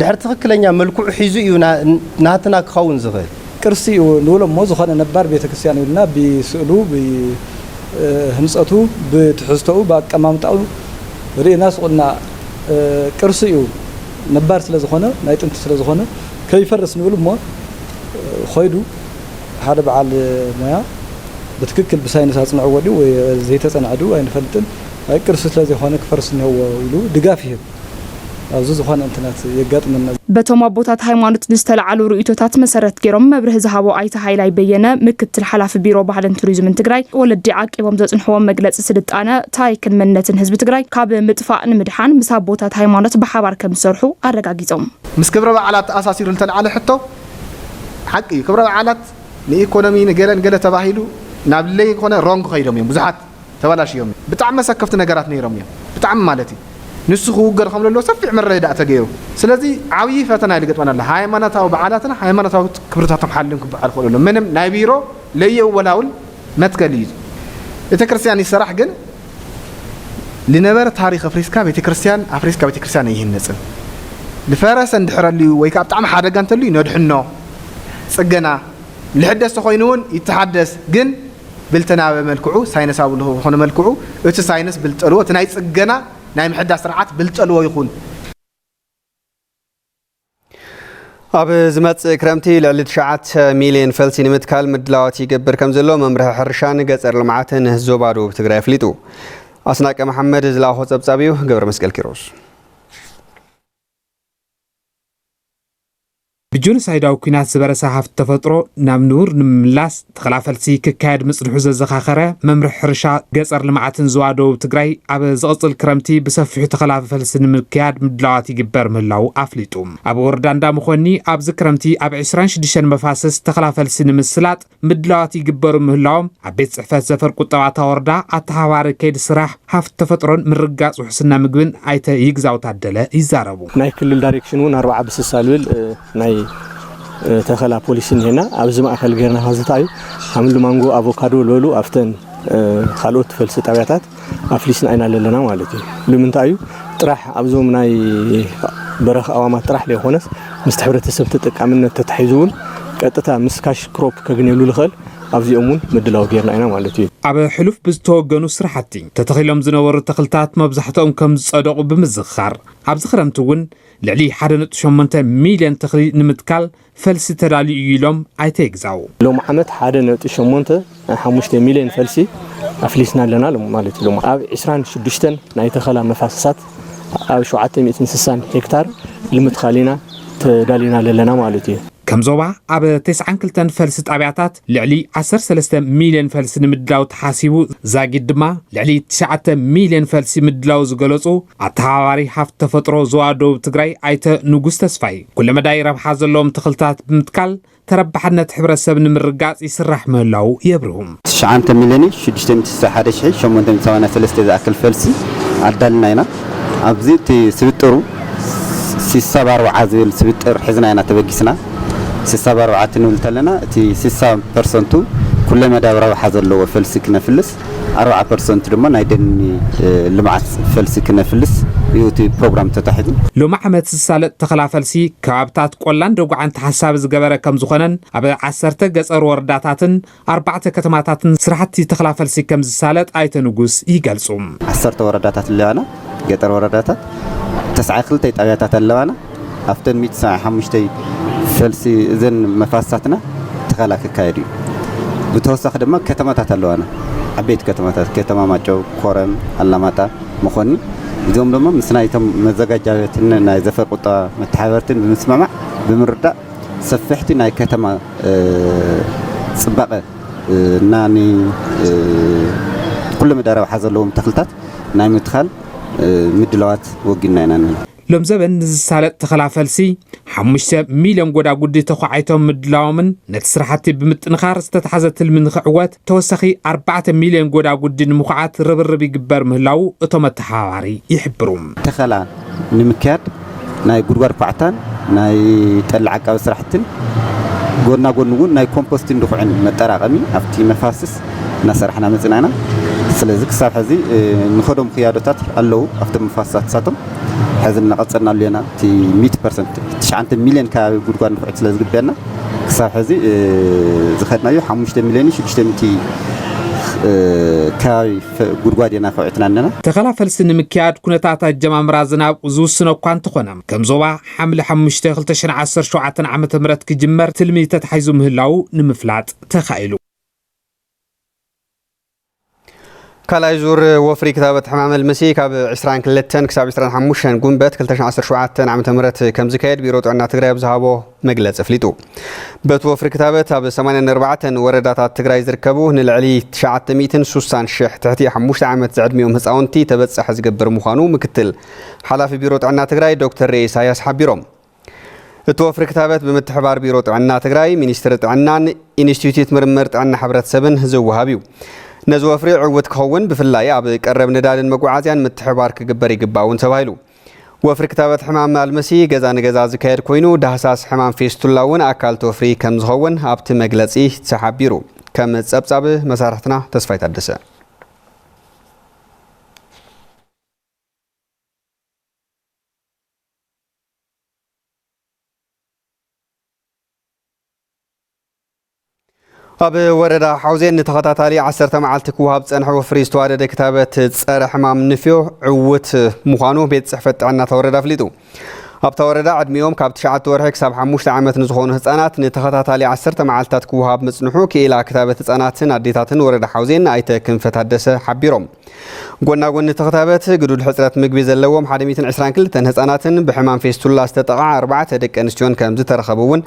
ድሕሪ ትኽክለኛ መልክዑ ሒዙ እዩ ናትና ክኸውን ዝኽእል። ቅርሲ እዩ ንብሎ እሞ ዝኾነ ነባር ቤተክርስቲያን ኢልና ብስእሉ፣ ብህንፀቱ፣ ብትሕዝቶኡ፣ ብኣቀማምጣኡ ርኢና ሱቕ ኢልና ቅርሲ እዩ ነባር ስለዝኾነ ናይ ጥንቲ ስለዝኾነ ከይፈርስ ንብል እሞ ኾይዱ ሓደ በዓል ሞያ ብትክክል ብሳይንስ ኣፅንዕዎ ድዩ ወይ ዘይተፀንዐ ድዩ ኣይንፈልጥን ኣይ ቅርሲ ስለዘይኾነ ክፈርስ እኒሀዎ ኢሉ ድጋፍ ይህብ። ኣብዚ ዝኾነ እንትነት የጋጥመና። በቶም ኣቦታት ሃይማኖት ብዝተልዓሉ ርእይቶታት መሰረት ገይሮም መብርሂ ዝሃቡ ኣይተ ሃይላይ በየነ ምክትል ሓላፊ ቢሮ ባህልን ቱሪዝምን ትግራይ ወለዲ ዓቂቦም ዘፅንሕዎም መግለፂ ስልጣነ፣ ታሪክን መንነትን ህዝቢ ትግራይ ካብ ምጥፋእ ንምድሓን ምስ ኣቦታት ሃይማኖት ብሓባር ከምዝሰርሑ ኣረጋጊፆም። ምስ ክብረ በዓላት ተኣሳሲሩ ዝተልዓለ ሕቶ ሓቂ እዩ። ክብረ በዓላት ንኢኮኖሚ ንገለን ገለ ተባሂሉ ናብ ለይኮነ ሮንግ ከይዶም እዮም ብዙሓት። ተባላሽዮም እዮም ብጣዕሚ ኣሰከፍቲ ነገራት ነይሮም እዮም ብጣዕሚ ማለት እዩ ንሱ ክውገድ ከም ዘለዎ ሰፊሕ ምርድዳእ ተገይሩ ስለዚ ዓብዪ ፈተና እዩ ዝገጥመና ኣሎ ሃይማኖታዊ በዓላትና ሃይማኖታዊ ክብርታቶም ሓልዮም ክበዓል ክኽእሉ ኣሎ ምንም ናይ ቢሮ ለየወላውል መትከል እዩ ቤተ ክርስቲያን ይሰራሕ ግን ልነበረ ታሪክ ኣፍሪስካ ቤተክርስትያን ኣፍሪስካ ቤተክርስትያን ኣይህነፅን ዝፈረሰ እንድሕር ኣልዩ ወይ ከዓ ብጣዕሚ ሓደጋ እንተልዩ ነድሕኖ ፅገና ልሕደስ ተኮይኑ እውን ይተሓደስ ግን ብልተናዊ መልክዑ ሳይነሳዊ ልኹ ብዝኾነ መልክዑ እቲ ሳይነስ ብልጠልዎ እቲ ናይ ፅገና ናይ ምሕዳስ ስርዓት ብልጠልዎ ይኹን። ኣብ ዝመፅእ ክረምቲ ልዕሊ ትሽዓተ ሚሊየን ፈልሲ ንምትካል ምድላዋት ይገብር ከም ዘሎ መምርሒ ሕርሻን ገፀር ልምዓትን ዞባ ደቡብ ትግራይ ኣፍሊጡ። ኣስናቀ መሓመድ ዝለኣኾ ፀብፃብ እዩ። ገብረ መስቀል ኪሮስ ብጆኖሳይዳዊ ኲናት ዝበረሰ ሃፍቲ ተፈጥሮ ናብ ንቡር ንምምላስ ተኸላፈልሲ ክካየድ ምጽንሑ ዘዘኻኸረ መምርሒ ሕርሻ ገጸር ልምዓትን ዞባ ደቡብ ትግራይ ኣብ ዝቕጽል ክረምቲ ብሰፊሑ ተኸላፈልሲ ንምክያድ ምድላዋት ይግበር ምህላዉ ኣፍሊጡ። ኣብ ወረዳ እንዳመኾኒ ኣብዚ ክረምቲ ኣብ ዕስራን ሽዱሽተን መፋስስ ተኸላፈልሲ ንምስላጥ ምድላዋት ይግበሩ ምህላዎም ኣብ ቤት ፅሕፈት ዘፈር ቁጠባ እታ ወረዳ ኣተሓባሪ ከይዲ ስራሕ ሃፍቲ ተፈጥሮን ምርግጋፅ ውሕስና ምግብን ኣይተ ይግዛው ታደለ ይዛረቡ። ናይ ክልል ዳይሬክሽን እውን ኣርባዓ ብስሳ ልብል ናይ ተኸላ ፖሊሲ እኒሄና ኣብዚ ማእኸል ገይርና ከዝተኣዩ ሃምሊ ማንጎ ኣቮካዶ ልበሉ ኣብተን ካልኦት ፈልሲ ጣብያታት ኣፍሊስና ኢና ለለና ማለት እዩ ልምንታይ እዩ ጥራሕ ኣብዞም ናይ በረኽ ኣዋማት ጥራሕ ለይኾነስ ምስቲ ሕብረተሰብ ተጠቃምነት ተታሒዙ እውን ቀጥታ ምስ ካሽ ክሮፕ ከግንየሉ ልኸል ኣብዚኦም እውን ምድላው ጌርና ኢና ማለት እዩ ኣብ ሕሉፍ ብዝተወገኑ ስራሕቲ ተተኺሎም ዝነበሩ ተኽልታት መብዛሕትኦም ከም ዝፀደቑ ብምዝኽኻር ኣብዚ ክረምቲ እውን ልዕሊ ሓደ ነጥቢ ሸሞንተ ሚልዮን ተኽሊ ንምትካል ፈልሲ ተላልዩ እዩ ኢሎም ኣይተ ይግዛው። ሎሚ ዓመት ሓደ ነጥቢ ሸሞንተ ሓሙሽተ ሚሊየን ፈልሲ ኣፍሊስና ኣለና ኢሎም። ማለት ኢሎም ኣብ ዕስራን ሽዱሽተን ናይ ተኸላ መፋሰሳት ኣብ ሸውዓተ ሚእትን ስሳን ሄክታር ልምትካል ኢና ተዳሊና ለለና ማለት እዩ። ከም ዞባ ኣብ ተስዓን ክልተን ፈልሲ ጣብያታት ልዕሊ ዓሰርተ ሰለስተ ሚሊየን ፈልሲ ንምድላው ተሓሲቡ ዛጊድ ድማ ልዕሊ ትሽዓተ ሚሊየን ፈልሲ ምድላው ዝገለፁ ኣተሓባባሪ ሃፍቲ ተፈጥሮ ዞባ ደቡብ ትግራይ ኣይተ ንጉስ ተስፋይ ኩለመዳይ ረብሓ ዘለዎም ተኽልታት ብምትካል ተረባሕነት ሕብረተሰብ ንምርጋፅ ይስራሕ ምህላው የብርሁ። 9 ሚልዮን 661,883 ዝኣክል ፈልሲ ኣዳልና ኢና። ኣብዚ እቲ ስብጥሩ ሲሳ ባርብዓ ዝብል ስብጥር ሒዝና ኢና ተበጊስና። ሲሳ ባርብዓ ክንብል ከለና እቲ ሲሳ ፐርሰንቱ ኩለመዳያዊ ረብሓ ዘለዎ ፈልሲ ክነፍልስ ኣርብዓ ፐርሰንት ድማ ናይ ደኒ ልምዓት ፈልሲ ክነፍልስ እዩ እቲ ፕሮግራም ተታሒዙ። ሎሚ ዓመት ዝሳለጥ ተኸላ ፈልሲ ከባብታት ቆላን ደጉዓን ተሓሳቢ ዝገበረ ከምዝኾነን ኣብ ዓሰርተ ገፀር ወረዳታትን ኣርባዕተ ከተማታትን ስራሕቲ ተኸላ ፈልሲ ከምዝሳለጥ ኣይተ ንጉስ ይገልፁ። ዓሰርተ ወረዳታት ኣለዋና ገጠር ወረዳታት ተስዓ ክልተይ ጣብያታት ኣለዋና። ኣብተን ሚእቲ ሰብዓን ሓሙሽተይ ፈልሲ እዘን መፋስሳትና ተኸላ ክካየድ እዩ። ብተወሳኺ ድማ ከተማታት ኣለዋና። ዓበይቲ ከተማታት ከተማ ማጨው፣ ኮረም፣ ኣላማጣ፣ መኾኒ እዚኦም ድማ ምስ ናይቶም መዘጋጃ ቤትን ናይ ዘፈር ቁጠባ መተሓበርትን ብምስምማዕ ብምርዳእ ሰፊሕቲ ናይ ከተማ ፅባቐ እና ንኩሉ መዳይ ረብሓ ዘለዎም ተኽልታት ናይ ምትኻል ምድላዋት ወጊንና ኢና ንብል። ሎምዘበን ንዝሳለጥ ተኸላ ፈልሲ ሓሙሽተ ሚልዮን ጎዳጉዲ ተዃዒቶም ምድላዎምን ነቲ ስራሕቲ ብምጥንኻር ዝተትሓዘ ትልሚ ንኽዕወት ተወሳኺ ኣርባዕተ ሚልዮን ጎዳጉዲ ንምኹዓት ርብርብ ይግበር ምህላዉ እቶም ኣተሓባባሪ ይሕብሩ። ተኸላ ንምክያድ ናይ ጉድጓድ ኳዕታን ናይ ጠሊ ዓቃቢ ስራሕትን ጎና ጎኒ እውን ናይ ኮምፖስቲን ድኹዕን መጠራቐሚ ኣብቲ መፋስስ እናሰራሕና መፂና ኢና። ስለዚ ክሳብ ሕዚ ንኸዶም ክያዶታት ኣለዉ ኣብቶም መፋስሳት ንሳቶም ሕዚ እናቐፀልናሉ ኢና። እቲ ሚእቲ ፐርሰንት ትሽዓንተ ሚሊዮን ከባቢ ጉድጓድ ድኹዒት ስለ ዝግበየና ክሳብ ሕዚ ዝኸድናዮ ሓሙሽተ ሚሊዮንን ሽዱሽተ ሚእቲ ከባቢ ጉድጓድ ኢና ከውዕትና ኣለና። ተኸላ ፈልሲ ንምክያድ ኩነታት ኣጀማምራ ዝናብ ዝውስኖ እኳ እንተኾነ፣ ከም ዞባ ሓምለ ሓሙሽተ ክልተ ሽሕን ዓሰርተ ሸውዓተን ዓመተ ምህረት ክጅመር ትልሚ ተታሒዙ ምህላዉ ንምፍላጥ ተኻኢሉ። ካልኣይ ዙር ወፍሪ ክታበት ሕማም ኣልምሲ ካብ 22 ክሳብ 25 ጉንበት 2017 ዓ ም ከምዝካየድ ቢሮ ጥዕና ትግራይ ኣብ ዝሃቦ መግለጺ ኣፍሊጡ። በቲ ወፍሪ ክታበት ኣብ ሰማንያን ኣርባዕተን ወረዳታት ትግራይ ዝርከቡ ንልዕሊ ትሽዓተ ሚእትን ሱሳን ሽሕ ትሕቲ ሓሙሽተ ዓመት ዝዕድሚኦም ህፃውንቲ ተበፃሒ ዝገብር ምዃኑ ምክትል ሓላፊ ቢሮ ጥዕና ትግራይ ዶክተር ሬ ኢሳያስ ሓቢሮም። እቲ ወፍሪ ክታበት ብምትሕባር ቢሮ ጥዕና ትግራይ፣ ሚኒስትሪ ጥዕናን ኢንስቲትዩት ምርምር ጥዕና ሕብረተሰብን ዝወሃብ እዩ። ነዚ ወፍሪ ዕውት ክኸውን ብፍላይ ኣብ ቀረብ ነዳድን መጓዓዝያን ምትሕብባር ክግበር ይግባእ እውን ተባሂሉ። ወፍሪ ክታበት ሕማም ኣልምሲ ገዛ ንገዛ ዝካየድ ኮይኑ ዳህሳስ ሕማም ፌስቱላ እውን ኣካልቲ ወፍሪ ከም ዝኸውን ኣብቲ መግለፂ ተሓቢሩ። ከም ፀብፃብ መሳርሕትና ተስፋይ ታደሰ። ኣብ ወረዳ ሓውዜን ንተኸታታሊ ዓሰርተ መዓልቲ ክወሃብ ዝፀንሐ ወፍሪ ዝተዋደደ ክታበት ፀረ ሕማም ንፍዮ ዕውት ምዃኑ ቤት ፅሕፈት ጥዕና እታ ወረዳ ኣፍሊጡ። ኣብታ ወረዳ ዕድሚኦም ካብ ትሽዓተ ወርሒ ክሳብ ሓሙሽተ ዓመት ንዝኾኑ ህፃናት ንተኸታታሊ ዓሰርተ መዓልትታት ክወሃብ ምፅንሑ ክኢላ ክታበት ህፃናትን ኣዴታትን ወረዳ ሓውዜን ኣይተ ክንፈ ታደሰ ሓቢሮም። ጎናጎኒ እቲ ክታበት ግዱድ ሕፅረት ምግቢ ዘለዎም ሓደ ሚእትን ዕስራን ክልተን ህፃናትን ብሕማም ፌስቱላ ዝተጠቕዓ ኣርባዕተ ደቂ ኣንስትዮን ከምዝተረኸቡ እውን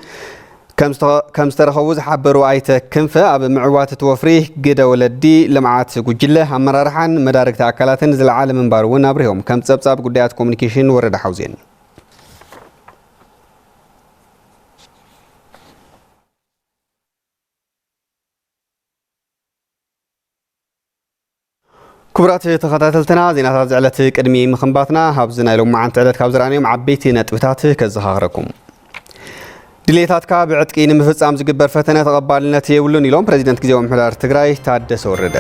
ከም ዝተረኸቡ ዝሓበሩ ኣይተ ክንፈ፣ ኣብ ምዕዋት እቲ ወፍሪ ግደ ወለዲ ልምዓት ጉጅለ ኣመራርሓን መዳርግቲ ኣካላትን ዝለዓለ ምንባሩ እውን ኣብሪሆም። ከም ፀብፃብ ጉዳያት ኮሙኒኬሽን ወረዳ ሓውዜን። ክቡራት ተኸታተልትና ዜናታት ዝዕለት ቅድሚ ምኽንባትና ኣብዚ ናይ ሎማዓንቲ ዕለት ካብ ዝረኣናዮም ዓበይቲ ነጥብታት ከዘኻኽረኩም። ድሌታትካ ብዕጥቂ ንምፍጻም ዝግበር ፈተነ ተቐባልነት የብሉን ኢሎም ፕረዚደንት ግዜያዊ ምሕደራ ትግራይ ታደሰ ወረደ።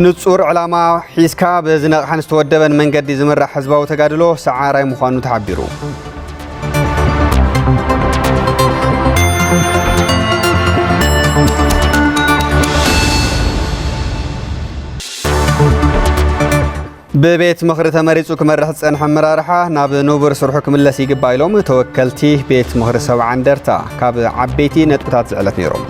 ንፁር ዕላማ ሒዝካ ብዝነቕሐን ዝተወደበን መንገዲ ዝምራሕ ህዝባዊ ተጋድሎ ሰዓራይ ምዃኑ ተሓቢሩ። ብቤት ምኽሪ ተመሪፁ ክመርሕ ዝፀንሐ ኣመራርሓ ናብ ንቡር ስርሑ ክምለስ ይግባእ ኢሎም ተወከልቲ ቤት ምኽሪ ሰብዓ እንደርታ ካብ ዓበይቲ ነጥብታት ዝዕለት ነይሮም።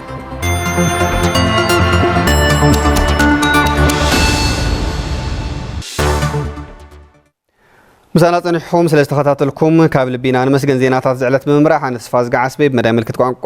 ምሳና ፀኒሕኹም ስለ ዝተኸታተልኩም ካብ ልቢና ንመስገን ዜናታት ዝዕለት ብምምራሕ ኣነ ተስፋ ዝገዓስበይ ብመዳይ ምልክት ቋንቋ